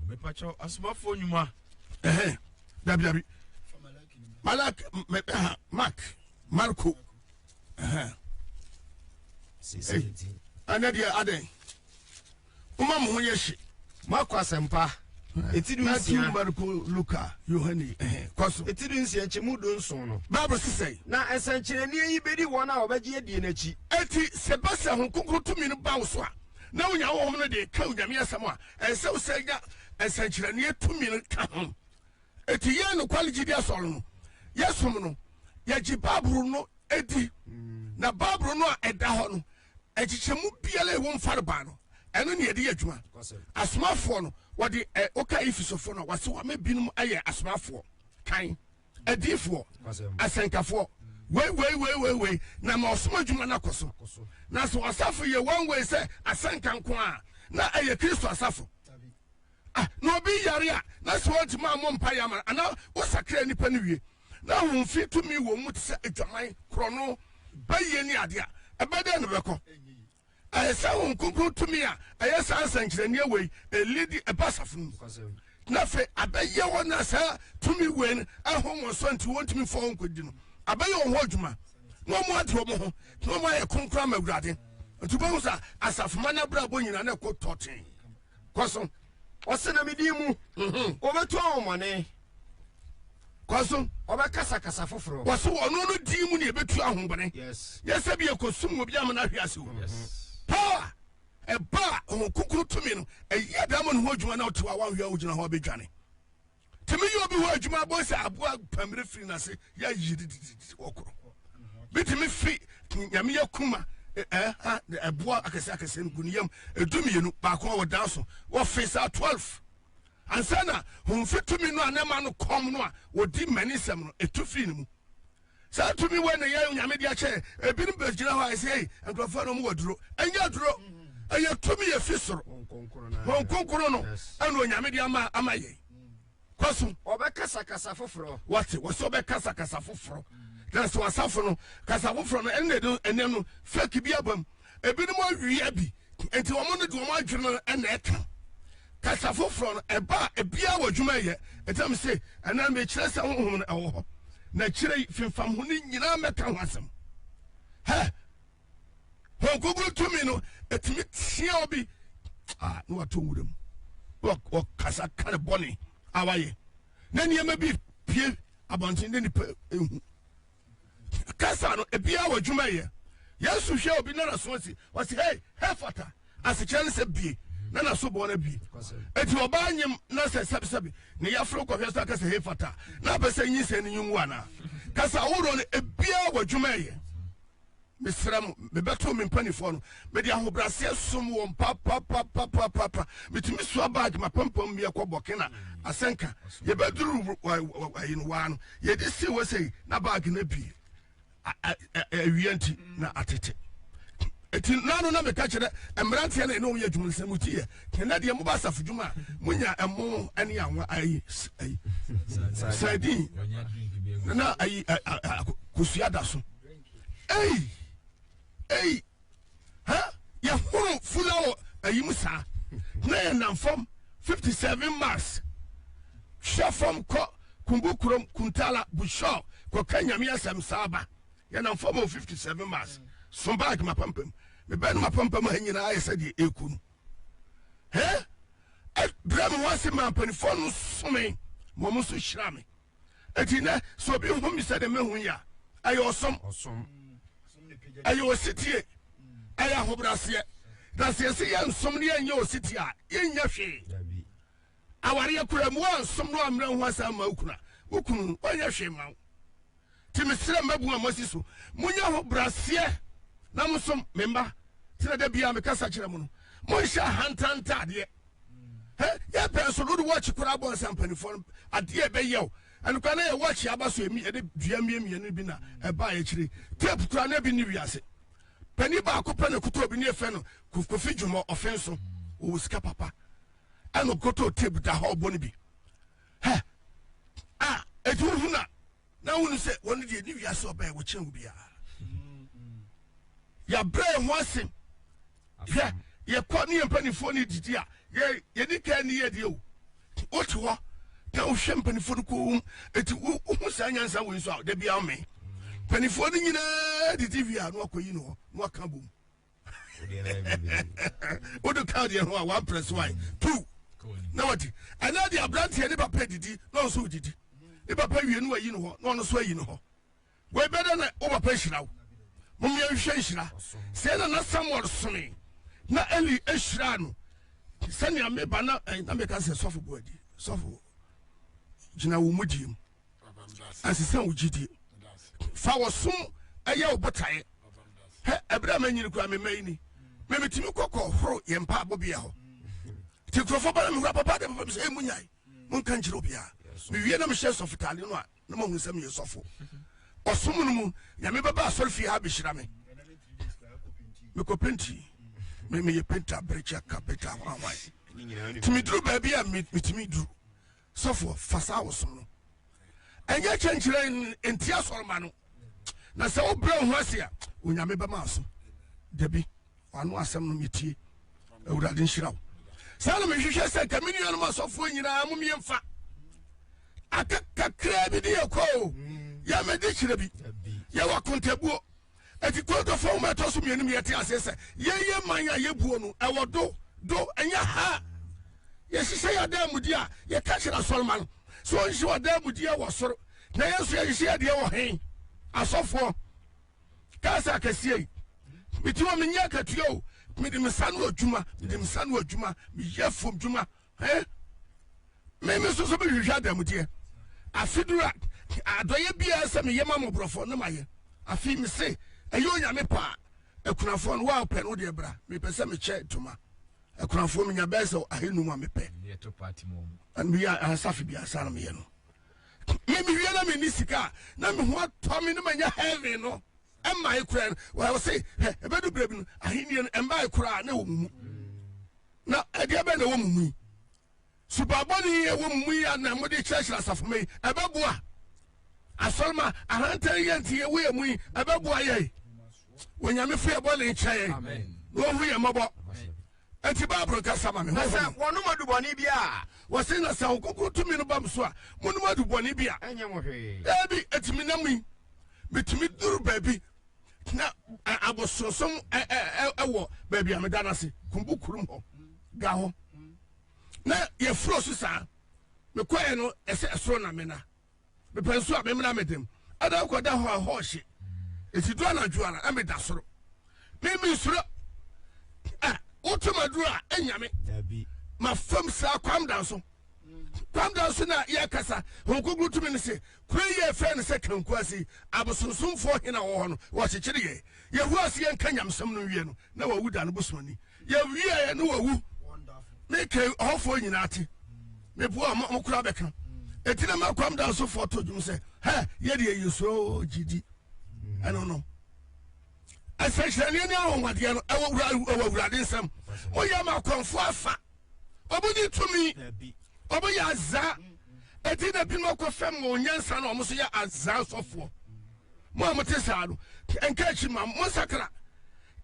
mepakyɛw asomafoɔ nnwuma ɛhɛn dabi dabi malaki mɛbɛha mark marco ɛhɛn ɛnɛ deɛ adɛn Momma mo ho nyɛ hye. Marko Asɛmpa, eti dunsia. Mateo, Marko, Luka, Yohane, ɛhɛ, kɔ so. Eti dunsia, nkyɛmu dunson no. Bible se sɛn? Na nsɛnkyerɛnneɛ yi bɛdi wɔn a wɔbɛgye adie no akyi. Enti sɛ ɛba sɛ Honhom Kronkron tumi no ba wo so a, na wonya Honhom no de reka Onyame asɛm a, ɛnsɛ wo sɛ nya nsɛnkyerɛnneɛ tumi no ka ho. Enti yɛn nokware gyidi asɔre no, yɛsom no, yɛgye Bible no di, na Bible no a ɛda hɔ no, Nkyekyɛmu biara a ɛwɔ mu farebae no, ɛno na yɛde yɛ adwuma. Asomafoɔ no, wɔde ɛ woka Efesofoɔ no a, wɔse wɔama binom ayɛ asomafoɔ, kan, adiyifoɔ, asɛnkafoɔ, wei wei wei wei wei, na ma ɔsom adwuma no akɔ so. Nanso ɔsafo yɛ wɔn wei sɛ asɛnka nko a, na ɛyɛ Kristo asafo. Ah, na obi yare a, na sɛ ɔntumi ammɔ mpaeɛ ama no, anaa wosakra nnipa no wie. N'ahomfi tumi wɔ mu te sɛ adwaman, korɔno, bayie ne adeɛ a. Ɛbɛ dɛn na ɛbɛkɔ? Ɛyɛ sɛ Honhom Kronkron tumi a ɛyɛ saa nsɛnkyerɛnneɛ wei ɛlidi ɛba asafo no mu. Na afei abɛyɛ wɔn a saa tumi wei no ɛho wɔn so nti wɔntumi mfa wɔn nkɔdi no. Abɛyɛ wɔn ho adwuma na wɔn ade wɔn ho na wɔn ayɛ kronkron ama Awurade. Nti wobɛhu sɛ asafomma no abrabɔ nyinaa na ɛkɔ tɔtee. Kɔ so. Ɔse na me din mu. Ɔbɛtu ahomɔne. Kɔ so. Ɔbɛkasa kasa foforɔ. Kɔ so. Ɔno no din mu na yɛbɛtu ahomɔne. Yes. Nyɛ sɛ bi yɛkɔsum obi ama no ahwe ase o. Yes. Power ɛba a ɔwɔ kunkun tumi no, ɛyɛ dɛ ma ne ho adwuma na ɔte hɔ a wanhwɛ a wogyina hɔ a bɛdwane. tumi yɛ obi hɔ adwuma abɔ sɛ aboa pamire firi n'ase yɛ yie didididi wɔkorɔ bi tumi fi nyame yɛ kuma ɛboa akɛse akɛse no gu ne yam edu mmienu baako a wɔdan so wɔfe saa twelve ansa na homfi tumi no a ne ma no kɔm no a wɔdi mmani nsɛm no etu firi ne mu Saa tumi wei na yɛn Onyame de akyɛ yɛn. Ebinom bɛgyina hɔ a ɛsɛ ei, nkurɔfoɔ no wɔwɔ duro. Ɛnyɛ aduro, ɛyɛ tumi ɛfiri soro. Honhom Kronkron no ɛna Onyame de ama ama yɛn. Kɔ so. Ɔbɛkasa kasa foforɔ. Wɔte, wɔsɛ ɔbɛkasa kasa foforɔ. Na sɛ wɔasafo no, kasa foforɔ no, ɛno na ɛde ɛnɛ no fake bi aba mu. Ebinom awia bi nti wɔn no de wɔn adwene no na ɛka kasa foforɔ no ɛba a ebiara wɔ adwuma yɛ ɛtam se ɛnam mekyerɛ sɛ honhom no ɛwɔ hɔ na kyerɛ yi fimfam ho no nyinaa mɛka ho asɛm hɛ wɔn kogoro tumi no ɛtumi tia obi a na wato nwura mu na wɔkasa ka ne bɔne a wayɛ na nneɛma bi pie abɔnten ne nipa ehu kasa no ebiara wɔ adwuma yɛ. Yesu hwɛ obi na n'aso asi, ɔsi hei hefata, asekyerɛ ne sɛ bie, na n'aso bɔɔ no bie. Eti ɔbaa nyim na sɛ sɛbisɛbi ne yaforo kɔhwɛ so akasa hefata, na apɛ sɛ nyinsɛn no nyi wu anaa? Kasa ahorow no ebiara wɔ adwuma yɛ. Mesrɛ mo, mebɛtoo me mpanimfoɔ no. Mede ahobrɛaseɛ som wɔn papapapapapa. Metumi soa bag, m'apampam bi kɔ Burkina, asɛnka. Yɛbɛduruu Wr wa wa wa yi no, waa no, yɛde sii hɔ sei, na bag no abue. A a a a awia nti, na atete. Eti nna no na meka kyerɛ mmeranteɛ na ɛne wɔn yɛ adwuma no sɛ mo ti yɛ, ɛnɛ deɛ moba asafo dwuma a, monya ɛmo ne anwa ayi s- ayi sardine na ayi a- a- a- kosua da so. Ei ei ha yɛhoro fula wɔ ayi mu saa na yɛnam fam 57 mars hwɛ fam kɔ kumbu kurom kuntala bushɔ kɔka nyame asɛm saa ba yɛnam fam wɔ 57 mars so bag mapampam mebɛn mapampam ha nyinaa ayɛ sɛ deɛ ɛku no hɛ brɛ me ho ase ma mpanimfoɔ no some ma ɔmo nso hyira me Eti nnɛ, sɛ obi hu me sɛdeɛ mehu yi a, ɛyɛ ɔsom, ɛyɛ ositie, ɛyɛ ahobraseɛ. Na sɛ yɛsi yɛn nsom ne yɛnyɛ ositie a, yɛnyɛ hwee. Awareɛ kura mu a nsom no ammerɛ ho asa ama wo kunu a, wo kunu no, ɔnyɛ hwee ma wo. Ti mesrɛ mmabu a moasi so, monyɛ ahobraseɛ na mosom. Me mma, tena da biara mekasa kyerɛ mo no, monhyɛ ahantan ntaadeɛ. Hɛ, yɛ pɛɛ so no wode watch koraa bɔ nsa mpanifoɔ no adeɛ a ɛbɛyɛ wo. Ɛno koraa na yɛ watch a aba so ɛmi yɛde dua mmie mmienu no bi na ɛbaa akyire. Tape koraa na bi nni wiase. Panin baako pɛ na ɛkotɔɔ bi ne yɛfrɛ no Kof Kofi Dwomɔ Ɔfenso. Ɔwɔ sika papa. Ɛna ɔkotɔɔ tape da hɔ ɔbɔ no bi. Hɛ, ah, ɛti wohunu a. Na wonu sɛ wɔn deɛ ne wiase ɔbɛn wɔkyɛn wo biara. Yɛabrɛ yɛn ho asem. Hwɛ, yɛkɔ ne yɛn mpanimfoɔ ne didi a, yɛ yɛni kaa ni yɛ deɛ o. Wote hɔ na wohwɛ mpanimfoɔ no koom, eti wohu saa nyansa wei nso a, da biara ɔmee. Mpanimfoɔ no nyinaa didi wie a, na wakɔyi ne hɔ, na waka bom. wode ka deɛ ho a waprɛ so ae tu na wate ɛnɛ de aberanteɛ ne papa didi na ɔnso wodidi ne papa wie no wayi no hɔ na ɔno so ayi no hɔ wɔbɛdɛ na wo papa hyira wo momeɛ nhwɛ nhyira sɛ na na samuel some na eli hyira no sɛnea meba na eh, na meka sɛ sɔfo boadi sɔfo gyina wo mu diem ɛsesa wo gyidie fa wɔ som ɛyɛ wo botaeɛ hɛ ɛberɛ a manyini koraa mema yi ni memetumi kɔkɔ horo yɛ mpa abɔbea hɔ nti nkurɔfoɔ ba na mehura papa de papa me sɛ ɛmu nyae monka nkyerɛ obiaa mewie na mehyɛ sɔfotaade no a na mahunu sɛ meyɛ sɔfo ɔsom no mu nyame bɛba asɔre fie ha bɛhyira me mekɔ penti meyɛ penta berekyɛ ka penta hwanhwan nti meduru baabi a metumi duru Sɔfoɔ, fa saa wo som no nyɛ kyɛnkyerɛn ntia asɔremma no, na sɛ wobrɛ wo ho ase a, Onyame bɛma aso. Dabi, wano asɛm no metie. Awurade nhyira wo. Saa na mehwehwɛ sɛ nka me nuanom asɔfoɔ nyinaa mo mmiɛmfa aka kakraa bi de yɛkɔ o, yɛmɛde kyerɛ bi, yɛwɔ akontabuo Eti Korinto fo nwoma ɛtɔ so mmienu mu yɛte aseɛ sɛ yɛn yɛ man a yɛbuo no ɛwɔ do do ɛnyɛ ha. Yɛhyehyɛ yɛn adaamudie a yɛka kyerɛ asɔrema no sɛ ɔnhyehyɛ w'adaamudie wɔ soro na yɛn nso yɛhyehyɛ yɛn deɛ wɔ he? Asɔfoɔ kaa sɛ akɛseɛ yi mete hɔ menyɛ akatua o mede me sa no adwuma mede me sa no adwuma meyɛ fam dwuma eh, me me soso mehwehwɛ adamudeɛ afe duru a adɔyɛ biara sɛ meyɛ ma mmɔborɔfoɔ ne mayɛ afei me se ɛyɛ onyame paa akunafoɔ no waa pɛ no deɛ bra mepɛ sɛ mekyɛ ntoma akunafoɔ menya bɛɛ sɛ ahenum a mepɛ meyɛ asafe bi asa na meyɛ no memewie na menni sika a na meho atɔ me ne manya heaven no ɛmmae koraa no wɔse ɛbɛdu berɛ bi no ahennie no ɛmbae koraa na ɛwɔ mu mu Na ɛdeɛ bɛn na ɛwɔ mo mu yi? Subammɔne yi ɛwɔ mo mu yi a na mode kyerɛkyerɛ asafo ma yi, ɛbɛboa? Asɔrema ahantan yi a nti yɛwɔ yɛn mu yi, ɛbɛboa yɛn? Onyame fi yɛ bɔne nkyɛ yɛn na ɔhu yɛn mmɔbɔ. Enti Bible kasa ma me. Na sɛ wɔnom adubɔne bi a. Wɔse na sɛ ɔkokoro tumi no ba mo so a, monom adubɔne bi a. Ɛnyɛ mo hwee. Ebi, ɛtumi nam yi. Metumi duru baabi. tena abosonsom wɔ baabi a meda no ase kumbu kurom hɔ da hɔ na yɛfuro so saa mekɔɛ no ɛsɛ ɛsoro na mena mepɛ nso a memena medem ɛda kɔda hɔ a hɔ hye ɛti do anadwo ara ɛmeda soro meme soro a woto maduro a ɛnyame mafam saa kwam da so kwam da so na yɛkasa honkogoro tumi no se Kwan yi a yɛfrɛ no sɛ Kanku ase abosonsomfoɔ he na ɔwɔ hɔ no, wɔkyekyere yɛ. Yɛhu ase yɛnka nyamesɛm no nwie no, na wawu da no bosoani. Yɛwieeɛ na wawu. Meka yi, ɔhɔfoɔ nyinaa te. Meboa mo, mo koraa bɛka. Enti na Makwam Dansofoɔ to dwom sɛ, Hɛ, yɛdeɛ yɛsuro gyidi. Ɛno no. Nsɛnkyerɛnneɛ ne anwanwadeɛ no, ɛwɔ Awurade nsam. Moyɛ Makwamfoɔ afa. ɔmo nye tumi ɔmo yɛ aza eti na binom akɔ fam wɔ onyansa na ɔmo so yɛ aza sɔfoɔ mo a mo te saa no nka akyi ma mo nsatra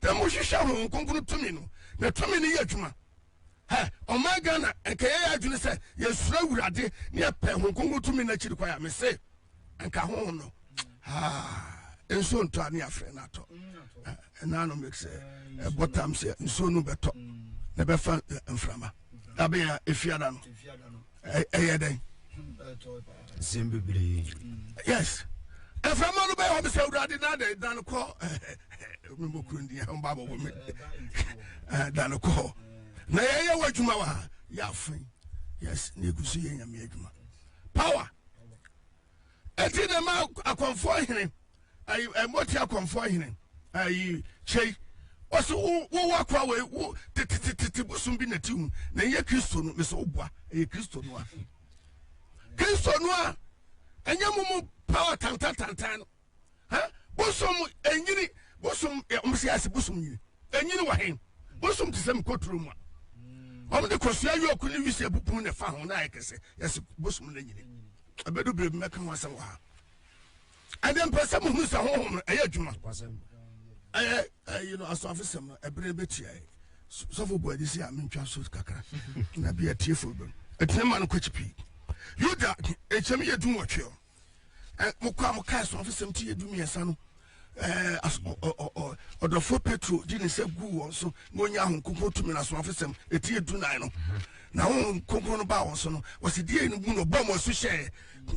na mo hwehwɛ ho nkonkron tumi no na tumi no yɛ adwuma hɛ ɔman ghana nka yɛyɛ adwene sɛ yɛsuro awurade ne yɛpɛ ho nkonkron tumi no akyiri kwan a mese nka ho no nsuo ntɔ a ne afrɛ no atɔ ɛna no make sɛ ɛbɔ tam sɛ nsuo no bɛtɔ na ɛbɛfa mframa na bɛyɛ efiada no ɛyɛ dɛn sɛm bebree yes ɛframa no bɛyɛ wɔm sɛ awurade na de dane kɔ memɔkuro ndi ɛhomba bɔbɔ me dane kɔ na yɛyɛ wɔ adwuma wɔ ha yɛ afen yes na ɛgu so yɛ nyame adwuma power ɛti na ma akɔnfoɔ hene ayi ɛmɔti akɔnfoɔ hene ayi kyɛyi ɔsi wo wo wa kɔ awɔ wo tetetetete bosom bi na ti hu na ɛyɛ kristo no mesɛ wo boa ɛyɛ kristo no a kristo no a ɛnyɛ mu mu power tantantantan no. Hɛ? Bosom enyini, bosom ɛ, wɔn si ase bosom nyini. Enyini wɔ he? Bosom te sɛ mkoturo mu a wɔn de kosua yɔɔku ne wisie bupun na ɛfa ho na ayɛ kɛse. Yɛsi bosom no nyini. Ɛbɛdu bere bi mɛka ho asɛm wɔ ha. Ɛdeɛ mpɛ sɛ mo hu sɛ honhom no ɛyɛ adwuma. Ɛyɛ ɛyi no asɔafosɛm no ɛbere bɛtua ɛ. Sɔfo bu adisi a mentwa so kakra na bi atiefo bɛm. Ɛtene ma no kɔkyi pii. Yuda, ɛkyɛm yɛ dun wɔtweɛ. eh, mo kɔ a mo kae sɔfo sɛm ti yɛ du mmiɛnsa no eh, ɔdɔfoɔ petro gye ne nsa guu wɔn so na ɔnya ho nkonkron tumi no asomafo sɛm ɛti yɛ du nan no na ho nkonkron no baa wɔn so no wɔsi deɛ no mu no bɔ wɔn so hyɛɛ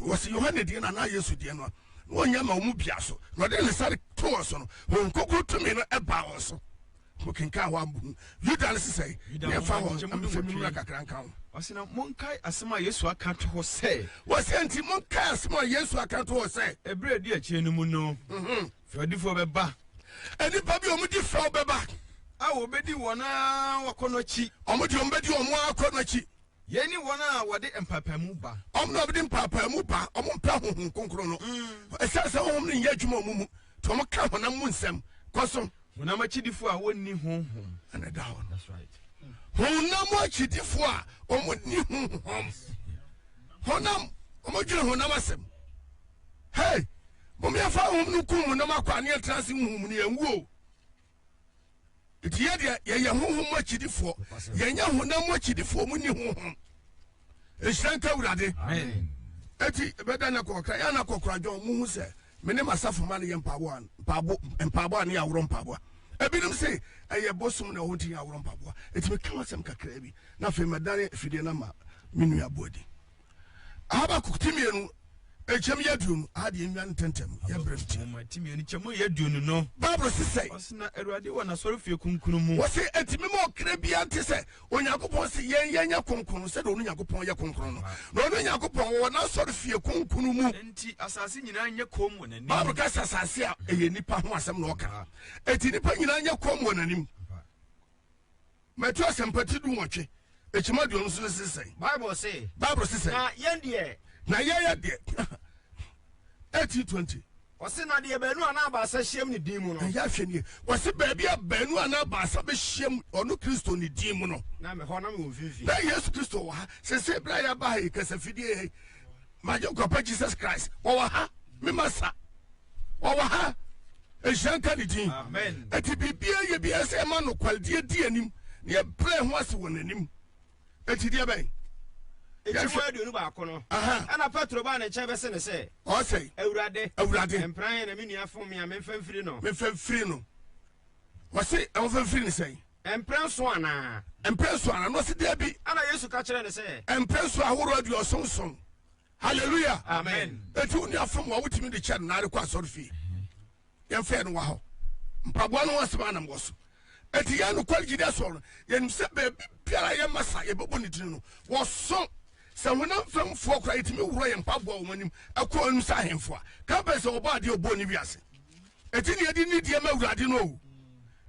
wɔsi yohane deɛ no anaa yesu deɛ no a wɔnyɛ ma wɔn bia so na ɔde ne nsa to wɔn so no ho nkonkron tumi no ɛbaa wɔn so Mokenkan hɔ a, mubehu Yuda no sesɛe. Yɛmfa hɔ na memfa me mmara kakra nka ho. Ɔse na monkae asɛm a Yesu aka to hɔ sɛ. Ɔse enti monkae asɛm a Yesu aka to hɔ sɛ. Ɛberɛ a ɛdi akyire no mu no, fɛwdifoɔ bɛba. Nnipa bi a wɔdi fɛw bɛba. A wɔbɛdi wɔn ara wɔakɔnnɔ akyi. Wɔn deɛ wɔbɛdi wɔn ara akɔnnɔ akyi. Yei ne wɔn a wɔde mpaapaemu ba. Wɔn na wɔde mpaapaemu ba, wɔmpɛ Honhom Kronkron no. Ɛsiane sɛ Honhom no nyɛ adwuma wɔn mu nti, wɔka honam mu nsɛm. Kɔ so. Honam akyidifo a wɔnni Honhom. Ɛna ɛda hɔ no. Honam akyidifo a wɔnni Honhom. Honam, wɔdwene honam asɛm. Hei, mom yɛmfa Honhom no nkum honam akwaa na yɛntena ase honhom mu na yɛnwu o. nti yɛ deɛ yɛyɛ honhom mu akyidifoɔ yɛnyɛ honam mu akyidifoɔ mu ni honhom nhyira nka awurade ɛti bɛda na kɔkra yɛ na kɔkra dwɔn mu hu sɛ me ne masafo ma no yɛ mpaboa mpaboa mpaboa ne aworɔ mpaboa ebinom se ɛyɛ bosom na wɔnti yɛ aworɔ mpaboa ɛti meka wasɛm kakraa bi na afei mɛdane afidie no ma me nua boadi Habakuk ti mmienu nkyɛmu yɛ aduonu a deɛ nnwa ntɛntɛm yɛ berɛ nti. Nwoma ti mmienu nkyɛmu yɛ aduonu no. Bible si sɛ. Ɔsi na Awurade wɔ n'asɔrefie kunkun mu. Wɔsi eti mi ma ɔkra biara nte sɛ Onyankopɔn si yɛn yɛn nyɛ kronkron sɛdeɛ ɔno Nyankopɔn yɛ kronkron no. Na ɔno Nyankopɔn wɔwɔ n'asɔrefie kunkun mu. Enti asase nyinaa nyɛ komm wɔ n'anim. Bible ka sɛ asase a ɛyɛ nipa ho asɛm na ɔka. Eti nipa nyinaa nyɛ komm wɔ n'anim. Matthew asɛmpa ti du nwɔtwe ekyim aduonu so no se sɛn? Bible se. Bible se sɛn? Na yɛn deɛ. Na yɛyɛ deɛ. Eighteen twenty. Ɔse na deɛ baanu anaa baasa hyiam ne din mu no. Ɛyɛ ahwɛ nie. Ɔse baabi a baanu anaa baasa bɛhyiam ɔno Kristo ne din mu no. Na mehɔ na mewɔ mfimfini. Na Yesu Kristo wɔ ha. Sese bere a yɛaba ha yi kasafidie yɛ magye nkwapa jesus christ wɔwɔ ha me masa wɔwɔ ha nhyira nka ne din ɛti biribia yɛ bia sɛ ɛma nokwaredeɛ di anim na yɛbrɛ ho ase wɔ n'anim ɛti deɛ bɛn ɛtimu aduonu baako no ɛna petro baa ne nkyɛn bɛse ne sɛ ɔsɛ awurade awurade mpran na me nua fom me a memfa mfiri no memfa mfiri no wɔse ɛwɔfa mfiri ne sɛn Mprɛnson anaa? Mprɛnson anaa? Na ɔse, Dabi. Ɛna Yesu ka kyerɛɛ no sɛ. Mprɛnson ahorow aduɔson nson. Hallelujah! Amen! Enti wo nua fom a wotumi de kyɛ no na arekɔ asɔre fie. Yɛmfa yɛn no wɔ ha o. Mpaboa no ho asɛm ara na mewɔ so. Enti yɛn nokware gyidi asɔre no, yɛnim sɛ baabi biara a yɛma sa yɛbɛbɔ ne din no, wɔso. Sɛ honam fam foɔ koraa, yɛtumi worɔ yɛn mpaboa wɔ wɔn anim kɔ wɔn anim sɛ ahemfo a. Ka bɛn sɛ wɔbɔɔ adeɛ a ɔbɔɔ ne wiase. Ɛti ne ɛdi nidie ma awurade no o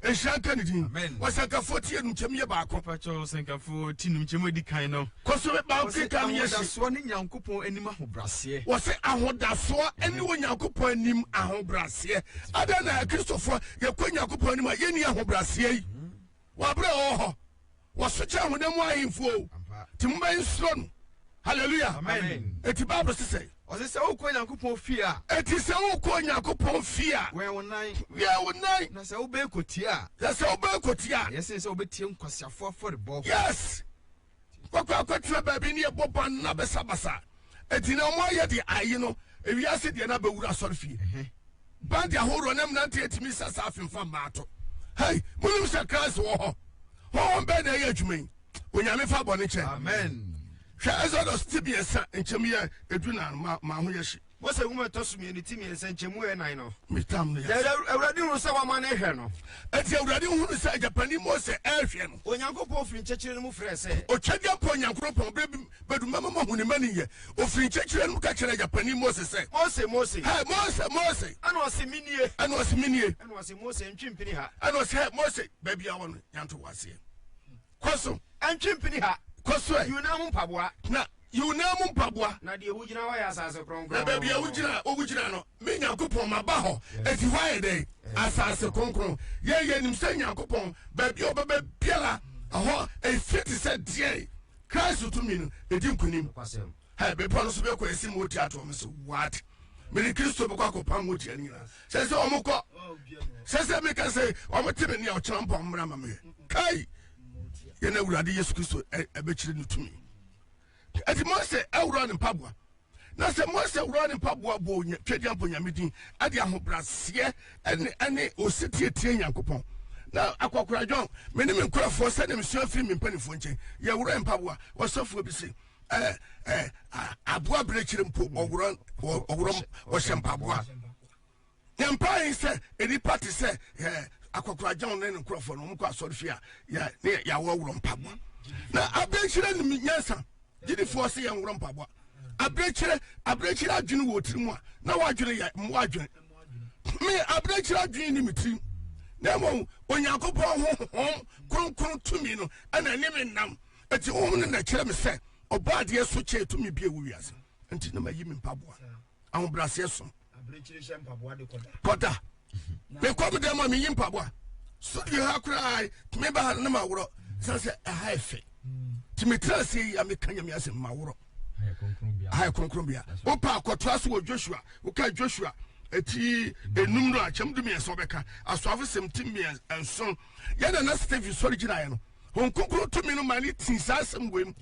nhyira nka ne din ɔsɛnkafoɔ ti enum kyɛm yɛ baako. mpatsɔ ɔsɛnkafoɔ ti enum kyɛm edi kan no. kɔsɔ bɛ ban keka no yɛ si. ahodasoɔ ne nyankopɔn anim ahobraseɛ. wɔsi ahodasoɔ ɛne wɔ nyankopɔn anim ahobraseɛ adan na akristofoɔ yɛkɔ nyankopɔn anim a yɛni ahobraseɛ yi. Wɔ abere a ɔwɔ hɔ, wɔso kyɛn honam mu ahemfo o, ti mo bɛn soro no. Hallelujah. Amen. Eti Bible se sɛ. Ɔse sɛ wokɔ Nyankopɔn fie a. Eti sɛ wokɔ Nyankopɔn fie a. Wɛn wo nan. Wɛn wo nan. Na sɛ wobɛn kɔtie a. Na sɛ wobɛn kɔtie a. Ɛyɛ sen sɛ wobɛtie nkwaseafo afɔrebɔ. Yes. Wɔkɔ akɔtena baabi ne ɛbɔ ban na basabasa adi na wɔayɛ deɛ ayi no ewiase deɛ na bɛwura asɔrefie. Mhm. Band ahoroɔ ne mmeranteɛ tumi sa saa afemfa mmaa to. Hei, monim sɛ Christ wɔ hɔ? Honhom bɛn na ɛyɛ adwuma yi? Onyame fa bɔne kyɛ. Amen. Hwɛ Exodus ti mmiɛnsa nkyɛmu yɛ edu na ma ma ho yɛ hye. Mose nwoma ɛtɔ so mmienu ti mmiɛnsa nkyɛmu ɛnan no. Metam no yɛ. Na Awurade hunu sɛ wɔama no rehwɛ no. Enti Awurade hunu sɛ agyapani Mose rehwɛ no. Onyankopɔn firi nkyɛkyerɛ no mu frɛɛ sɛ. Otwadeɛmpɔ Nyankoropɔn, berɛ bi bɛdu mɛma moahu ne mmaninyɛ. Ɔfiri nkyɛkyerɛ no mu ka kyerɛɛ agyapani Mose sɛ. Mose, Mose! Hɛ, Mose, Mose! Ɛna ɔse, Menie! Ɛna ɔse, Menie! Ɛna ɔse, Mose, ntwe mpini ha. Ɛna ɔse, Hɛ, Mose, baabi a wɔ no, yɛanto wo aseɛ. Kɔ so. Ntwe mpini ha. Kɔ so ɛ. Yi wo nan mu mpaboa. Na, yi wo nan mu mpaboa. Na deɛ wogyina hɔ yɛ asase kronkron. Na baabi a wogyina, wogyina no, me Nyankopɔn, maba hɔ. Enti hɔ ayɛ dɛn? Asase kronkron. Yɛn, yɛnim sɛ Nyankopɔn, baabi a ɔbɛba biara, ɛhɔ, efie te sɛ deɛn? Christ tumi no, ɛdi nkonim. Nokwasɛm. Hɛ, bepɔ no so bɛ kɔ esi mo tia toɔ, me se, what? Me ne Kristo bɛ kɔ akɔ pam mo tia no nyinaa. Sɛ sɛ ɔmo kɔ, sɛ sɛ me ka sɛ ɔmo te me nea ɔkyena mpo ɔmo mmerɛ ma me yɛ. Kai, yɛ na Awurade Yesu Kristo ɛbɛ kyerɛ ne tumi. Ɛti mo sɛ ɛwura ne mpaboa. Na sɛ mo sɛ wura ne mpaboa bɔ twɛdi ampo nyame din, ɛde ahobraseɛ ɛne ɛne osetie tie nyankopɔn. Na akɔkora dwɔn, me ne me nkurɔfoɔ sɛdeɛ mesua firi me mpanimfoɔ nkyɛn, yɛ wura mpaboa, ɔsɔfoɔ bi se. ɛɛ ɛɛ aboa abirekyiri mpo ɔworɔ ɔworɔ ɔhyɛ mpaboa yɛn mpae sɛ nnipa te sɛ ɛɛ akɔkoragyan ne ne nkorɔfoɔ no wɔn kɔ asɔrefie a yɛ ne yɛawɔ worɔ mpaboa na abirekyiri nim nyansa gyidifoɔ sɛ yɛn worɔ mpaboa abirekyiri abirekyiri adwene wɔ tiri mu a na wadwene yɛ mmoa adwene me abirekyiri adwene ne me tirim na mmom onyankopɔn ho hom kronkron tumi no ɛna ne me nam Enti honhom no na ɛkyerɛ me sɛ ɔbɔ adeɛ so kyɛɛ tumi bi a ɛwɔ wiase nti na mayi me mpaboa ahobrɛaseɛ som kɔda mekɔ me dɛm a meyi mpaboa studio ha koraa tumi ba ha no na maworɔ sane sɛ ɛha yɛ fɛ nti metena aseɛ yi a meka nyame asɛm maworɔ aha yɛ kronkronbea wopɛ akɔtoa so wɔ joshua woka joshua ɛti enum no akyɛm du mmiɛnsa ɔbɛka asoafo sɛm ti mmiɛnsa nson yɛn nana stephen sɔre gyinaeɛ no wɔn kunkun tumi no ma ne tii saa asɛm wei mu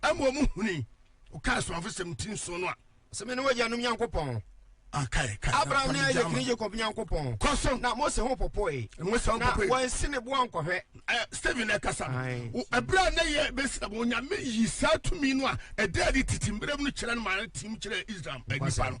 ɛma wɔn huni ɔka asomafo sɛm ti nson no a. sɛ me ne wɔyɛ nom nyankopɔn abraham ne ayɛ kiri jacob nyankopɔn kɔso na mose ho popoe na wɔnsi ne boa nkɔhwɛ stephen ɛkasa ɛberɛ a na yɛ bɛsira bɔ onyame yi saa tumi no a ɛda adi tete mmerɛ mu no kyerɛ no ma tim kyerɛ israel nnipa no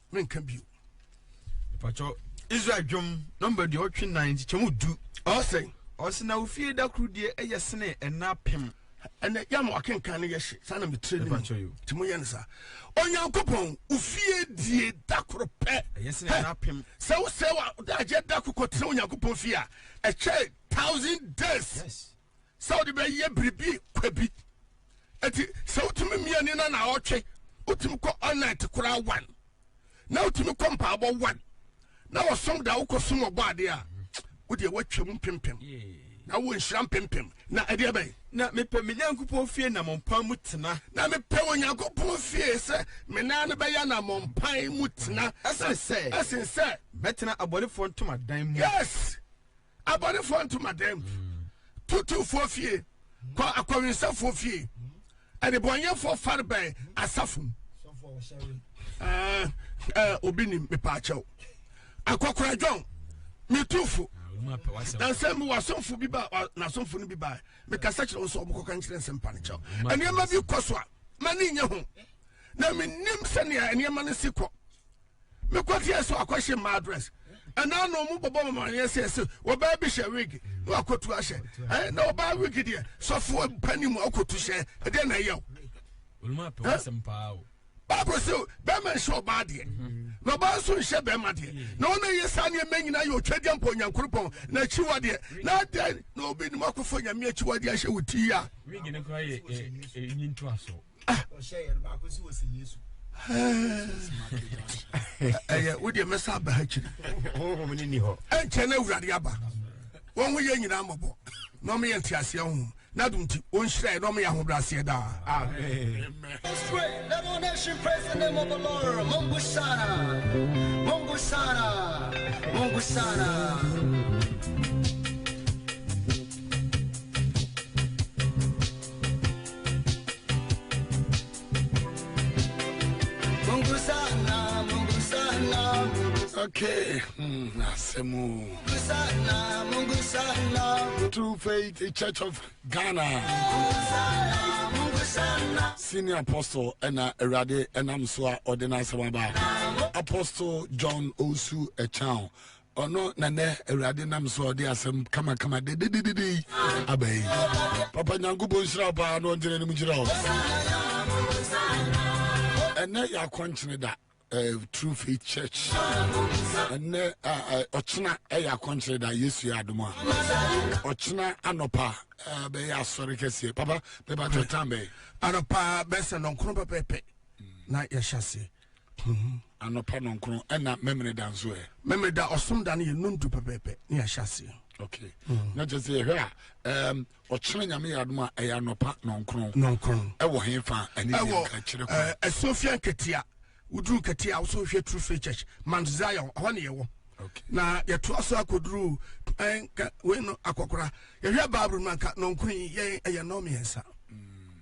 menka bio pakyɛ israel dwom nɔmba deɛ ɔtwe nan nkyekyɛmu du ɔsɛ ɔsɛ na ofie da koro deɛ ɛyɛ sene ɛna pem ɛnɛ yɛ ama wakenkan no yɛhye saa na metrɛ no mu nti moyɛ no saa onyankopɔn ofie die da koro pɛ sɛ wosɛ wadaagyeɛ da kokɔtena onyankopɔn fie a ɛkyɛ thousand days yes. sɛ wode bɛyɛ biribi kwa bi nti sɛ wotumi mmiani na na ɔtwe wotumi kɔ ɔnɛt koraa wan na wotumi kɔ mpaabɔ wan na wɔsom da wokɔ som ɔbɔ ade a wodeɛ woatwa mu mpempem na wɔ nhyira mpempem na ɛdeɛ bɛn na mepɛ me nyankopɔn fie na mɔmpan mu tena na mepɛ wɔ nyankopɔn fie sɛ me nan no bɛyɛ na mɔmpan mu tena ɛsene sɛ ɛsene sɛ mɛtena abɔnefoɔ ntomadan mu yes abɔnefoɔ ntomadan tutufoɔ fie kɔ akɔwensafoɔ fie adebɔnyɛfoɔ farebɛn asafo mu ɛɛ ɛɛ obi nim mepaakyɛw akɔkora dwɔn metufo nansɛ mi wasomfo bi ba nasomfo no bi ba mekasa kyerɛ wɔn sɛ wɔn kɔka nkyerɛ nsɛm pa ne kyɛw nneɛma bi kɔ so a ma ne nyɛ ho na menim sɛnea nneɛma no si kɔ mekɔ fie so akɔhye mma adress ɛna na ɔmo bɔbɔ ɔmo aneɛ sɛ ɛsɛ ɔbaa bi hyɛ wig na wakɔtu ahyɛ ɛɛ na ɔbaa wig deɛ sɔfo pani mu akɔtu hyɛ ɛdeɛ na ɛyɛ o. baako sɛ bɛrima nhyɛ ɔbaa deɛ na ɔbaa nso nhyɛ bɛrima deɛ na ɔna yɛ saa nneɛma nyinaa yɛ ɔtwa deɛ mpa onyankoropɔn na akyiwa deɛ na adɛn na obi nim akɔfo nyame akyiwa deɛ ahyɛ wo ti a. wig no kora yɛ ɛyi ntoaso. ɛyɛ wodeɛ mɛsa aba ha kyiri ɛnkyɛ no awurade aba wɔn ho yɛ nyinaa mmɔbɔ na ɔmeyɛ nteaseɛ ho na dom nti ɔnhyira yɛ na ɔmeyɛ ahobrɛaseɛ daa Mongusana, Okay, hmm, Asemu. True Faith Church of Ghana. Senior Apostle and Erade and Amswa Ordinance Apostle John Osu Echao. ɔno na nɛ awurade nam so ɔde asɛm kamakama dedededede yi aba yi papa nyankopɔn nhyira wo paa na ɔngyina anim ngyina wo ɛnɛ yɛ akɔnkyene da eh, true faith church ɛnɛ ah, eh, ɔkyena ɛyɛ akɔnkyene da yesu yɛ adom a ɔkyena anɔpa eh, bɛyɛ asɔre kɛseɛ papa bɛbatɔ tam bɛyɛ anɔpa bɛsɛ nɔnkoro pɛpɛpɛ na yɛhyɛ aseɛ Mhm. Anɔpa nɔnkron ɛna Memeneda nso ɛ. Memeneda ɔsom da no yɛ nondu pɛpɛɛpɛ ne yɛahyɛ aseɛ. Okay. Mm. Na kyerɛ sɛ yɛhwɛ a um, ɔkyena nyame yɛ adom a ɛyɛ anɔpa nɔnkron nɔnkron ɛwɔ he fa ɛne nka kyerɛ kɔ eh, asuafia nketea woduru nketea wo so hwɛ true faith church mount zion ɛhɔ ne yɛwɔ okay. na yɛtoa so akɔduru eh, nka wei no akɔkora yɛhwɛ bible no anka nɔnkron yi yɛn ɛyɛ nɔmmiɛnsa mm.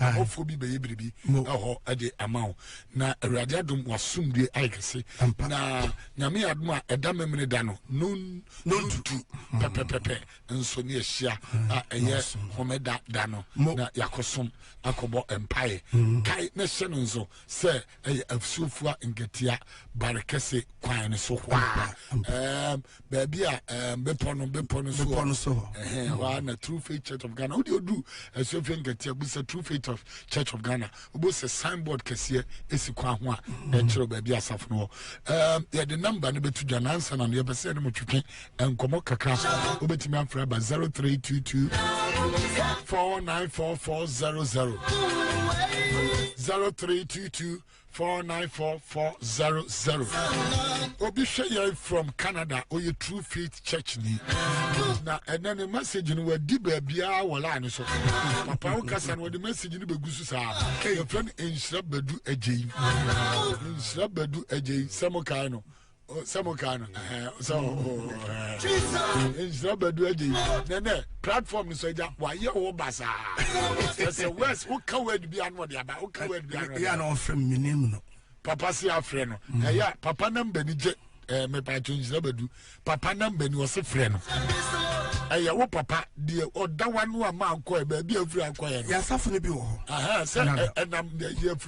Ɔbɔfoɔ bi bɛyɛ biribi ɛhɔ ɛde ama wo na awurade adom wasomdue ayɛ kɛse na nyame yɛ adom a ɛda memene da no nontu pɛpɛpɛpɛ nso ne ahyia a ɛyɛ homeda da no na yɛakɔsom akɔbɔ mpaeɛ kae na hyɛ no nso sɛ ɛyɛ afusofua nketea bare kɛse kwan no so hɔ a ɛɛm baabi a ɛɛm bepɔ no bepɔ no so bepɔ no so hɔ ɛhɛn hɔ a na true faith church of ghana wodi odu afusofua nketea bi sɛ true faith of church of ghana obo sɛ signboard kɛseɛ esi kwan ho a ɛkyerɛ baabi asafo no wɔ ɛɛm yɛde namba no bɛtu dwa nansa na no yɛpɛ sɛ yɛde mo twetwe nkɔmmɔ kakra wobɛtumi afrɛ ba 0322 494400 0322 494400 obi hwɛ yɛn from canada ɔyɛ true faith church ni na ɛnɛ ne message no wadi baabiaa wɔ line so papa wo kasa no wɔde message no bɛgu so saa yɛfrɛ no nhyira badu agyei nhyira badu agyei sɛ mo kae no Oh, sɛ mo kaa no sɛ nhyira badu agye yi nɛnɛ platform no so agya wayɛ wo basaa ɛsɛ west woka word bia no ɔde aba woka word bia no yɛ na ɔfrɛ me menim no papa se afrɛ no mm. ɛyɛ papa namba ni gye mepatwo nhyira badu papa namba ni ɔse frɛ no ɛyɛ wo papa deɛ ɔda wa no a ma akɔɛ baabi afiri akɔɛ no yɛasafo no bi wɔ hɔ sɛ ɛnam yɛafiri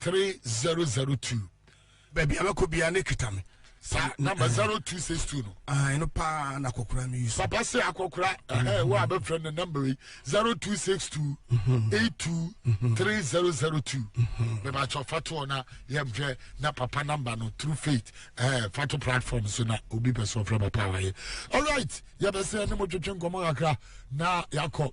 three zero zero two. baabi a mɛkɔ biara ne kita me sa number zero two six two no. ɛno no paa na akɔkora mi yusu. papa se akɔkora ɛhɛn wo a bɛ fɛ ne number yi zero two six two eight two three zero zero two bɛba atwa fatoɔ na yɛm hwɛ na papa number no through faith ɛɛ fato platform so na obi pɛ so ɔfrɛ papa wa yɛ alright yɛbɛsɛ ne mo twetwe nkɔmɔ kakra na yakɔ.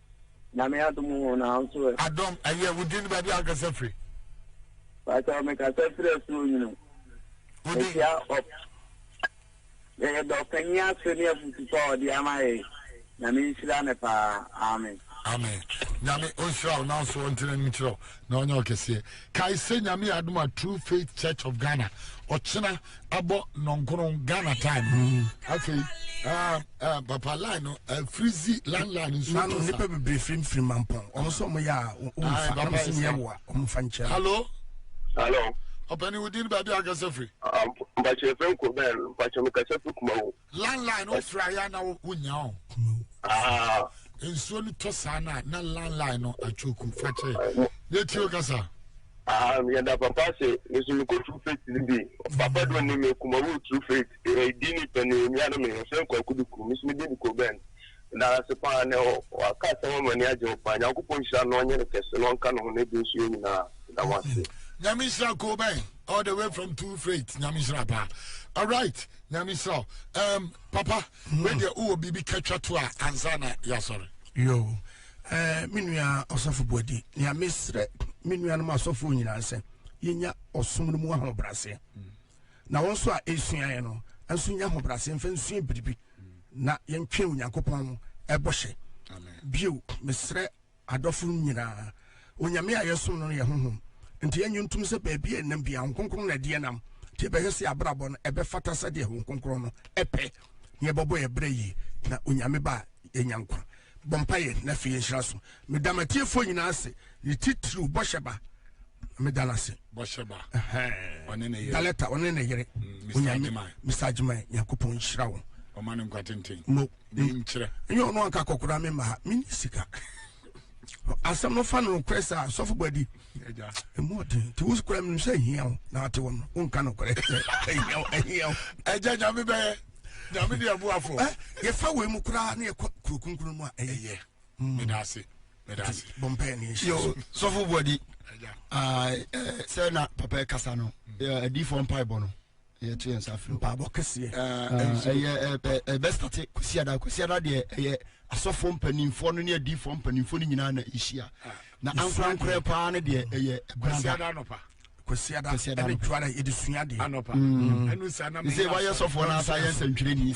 Nyame adom ho na wo nso ɛ? Adom, ɛyɛ wo din ne baabi a wokasa firi? Pakyɛ mekasa firi asuo nyini. Wo din? Mehyia ɔ yɛyɛ dɔ ɔpanyin ase ne afutu pa a ɔde ama yɛ. Nyame nhyira no paa. Amen. Amen. Nyame ɔnhyira wo nanso ɔntene anim nkyerɛ wo. na ɔnyɛ ɔkɛseɛ kae sɛ nyame adom a true faith church of ghana ɔkyena abɔ nɔnkono ghana time mm. afei ah, ah, papa line no eh, frizi line line nso to sa nipa bebree firim firim mampɔn ɔmo sɛ ɔmo yɛ a ɔmo fa ɔmo sɛ yɛ wɔ a ɔmo fa nkyɛn hallo hallo ɔpɛni wodin baabi akasɛ firi mpakyɛ fɛn kɔ bɛn mpakyɛ mekasɛ firi kuma wo Landline no wofrɛ ayɛ na wonya o. Nsuo no tɔ saa na na landline no atwoku fakyɛ ne tio kasa. Yɛda papa ase nso mekɔ true faith no bi papa do ne me kuma wo true faith ɛdi ne pɛ ne nua no me yɛfrɛ nkɔ akudu kuru me so me didi kɔ bɛn na ase paa ne waka asɛm ama ne agye wo paa nyankopɔn nhyira no ɔnyɛ ne kɛse no ɔnka ne ho ne de nso yɛ nyinaa da mo ase nyame nhyira kɔ bɛn all the way from true faith nyame nhyira paa alright Nyame nhyira wo. Um, papa, mm. wei deɛ wowɔ biribi ka twa to a ansa na yɛasɔre. Yo, eh, me nua ɔsɔfo Boadi, nea mesrɛ me nuanom asɔfoɔ nyinaa sɛ yɛnya ɔsom no mu ahobrɛaseɛ. Mm. Na wɔn nso a ɛsuaeɛ no, nso nya ahobrɛaseɛ mfa nsua biribi na yɛntwe Onyankopɔn ɛbɔhyɛ. Bio, mesrɛ Adɔfonom nyina, Onyame a yɛsom no no yɛ Honhom, nti yɛnnye ntom sɛ baabi a ɛnam biaa Honhom Kronkron na ɛdeɛ nam, nti yɛbɛhwɛ sɛ yɛabrabɔ no ɛbɛfata sɛdeɛ Honhom Kronkron no pɛ, na yɛbɛbɔ yɛn bra yie na Onyame ba a yɛanya nkwa. Bɔ mpaeɛ na afei yɛnhyira so. Meda m'atiefoɔ nyinaa ase, ne titiriw bɔhyɛ ba, meda no ase. Bɔhyɛ ba, ɔne ne yere. Daletta, ɔne ne yere. Onyame, Mister Agyemang, Nyankopɔn nhyira wo. Ɔma no nkwa tenten. menkyerɛ ɛnyɛ ɔno anka kɔkora me mma ha menni sika asɛm no fa no nokorɛ saa sɔfo bɔadi ɛmu ɔden nti wo kora menim sɛ ahia wo na ate wo no wonka nokorɛ ahia wo ahia wo agya nyame bɛyɛ nyame de aboafoɔ eh, yɛfa wei mu koraa ne yɛkɔ kuro kunkunu mu a ɛyɛ mm. meda ase meda ase bɔmpɛ ne nhyɛ sɔfo bɔadi ah, eh, sɛ na papa ɛkasa no mm. eh, adiifoɔ mpaebɔ no yɛto yɛn nsa frɛ mpaabɔ kɛseɛ ɛyɛ ɛbɛstate kwasiada kwasiada deɛ ɛyɛ asɔfoɔ mpanimfoɔ no ne adiifoɔ mpanimfoɔ no nyinaa na ɛhyia na ankorankorɛ paa no deɛ ɛyɛ kwasiada anɔpa kwasiada ɛne dwara yɛde sua deɛ ɛne sɛ wayɛ sɔfoɔ no asa yɛ nsɛntwerɛ ni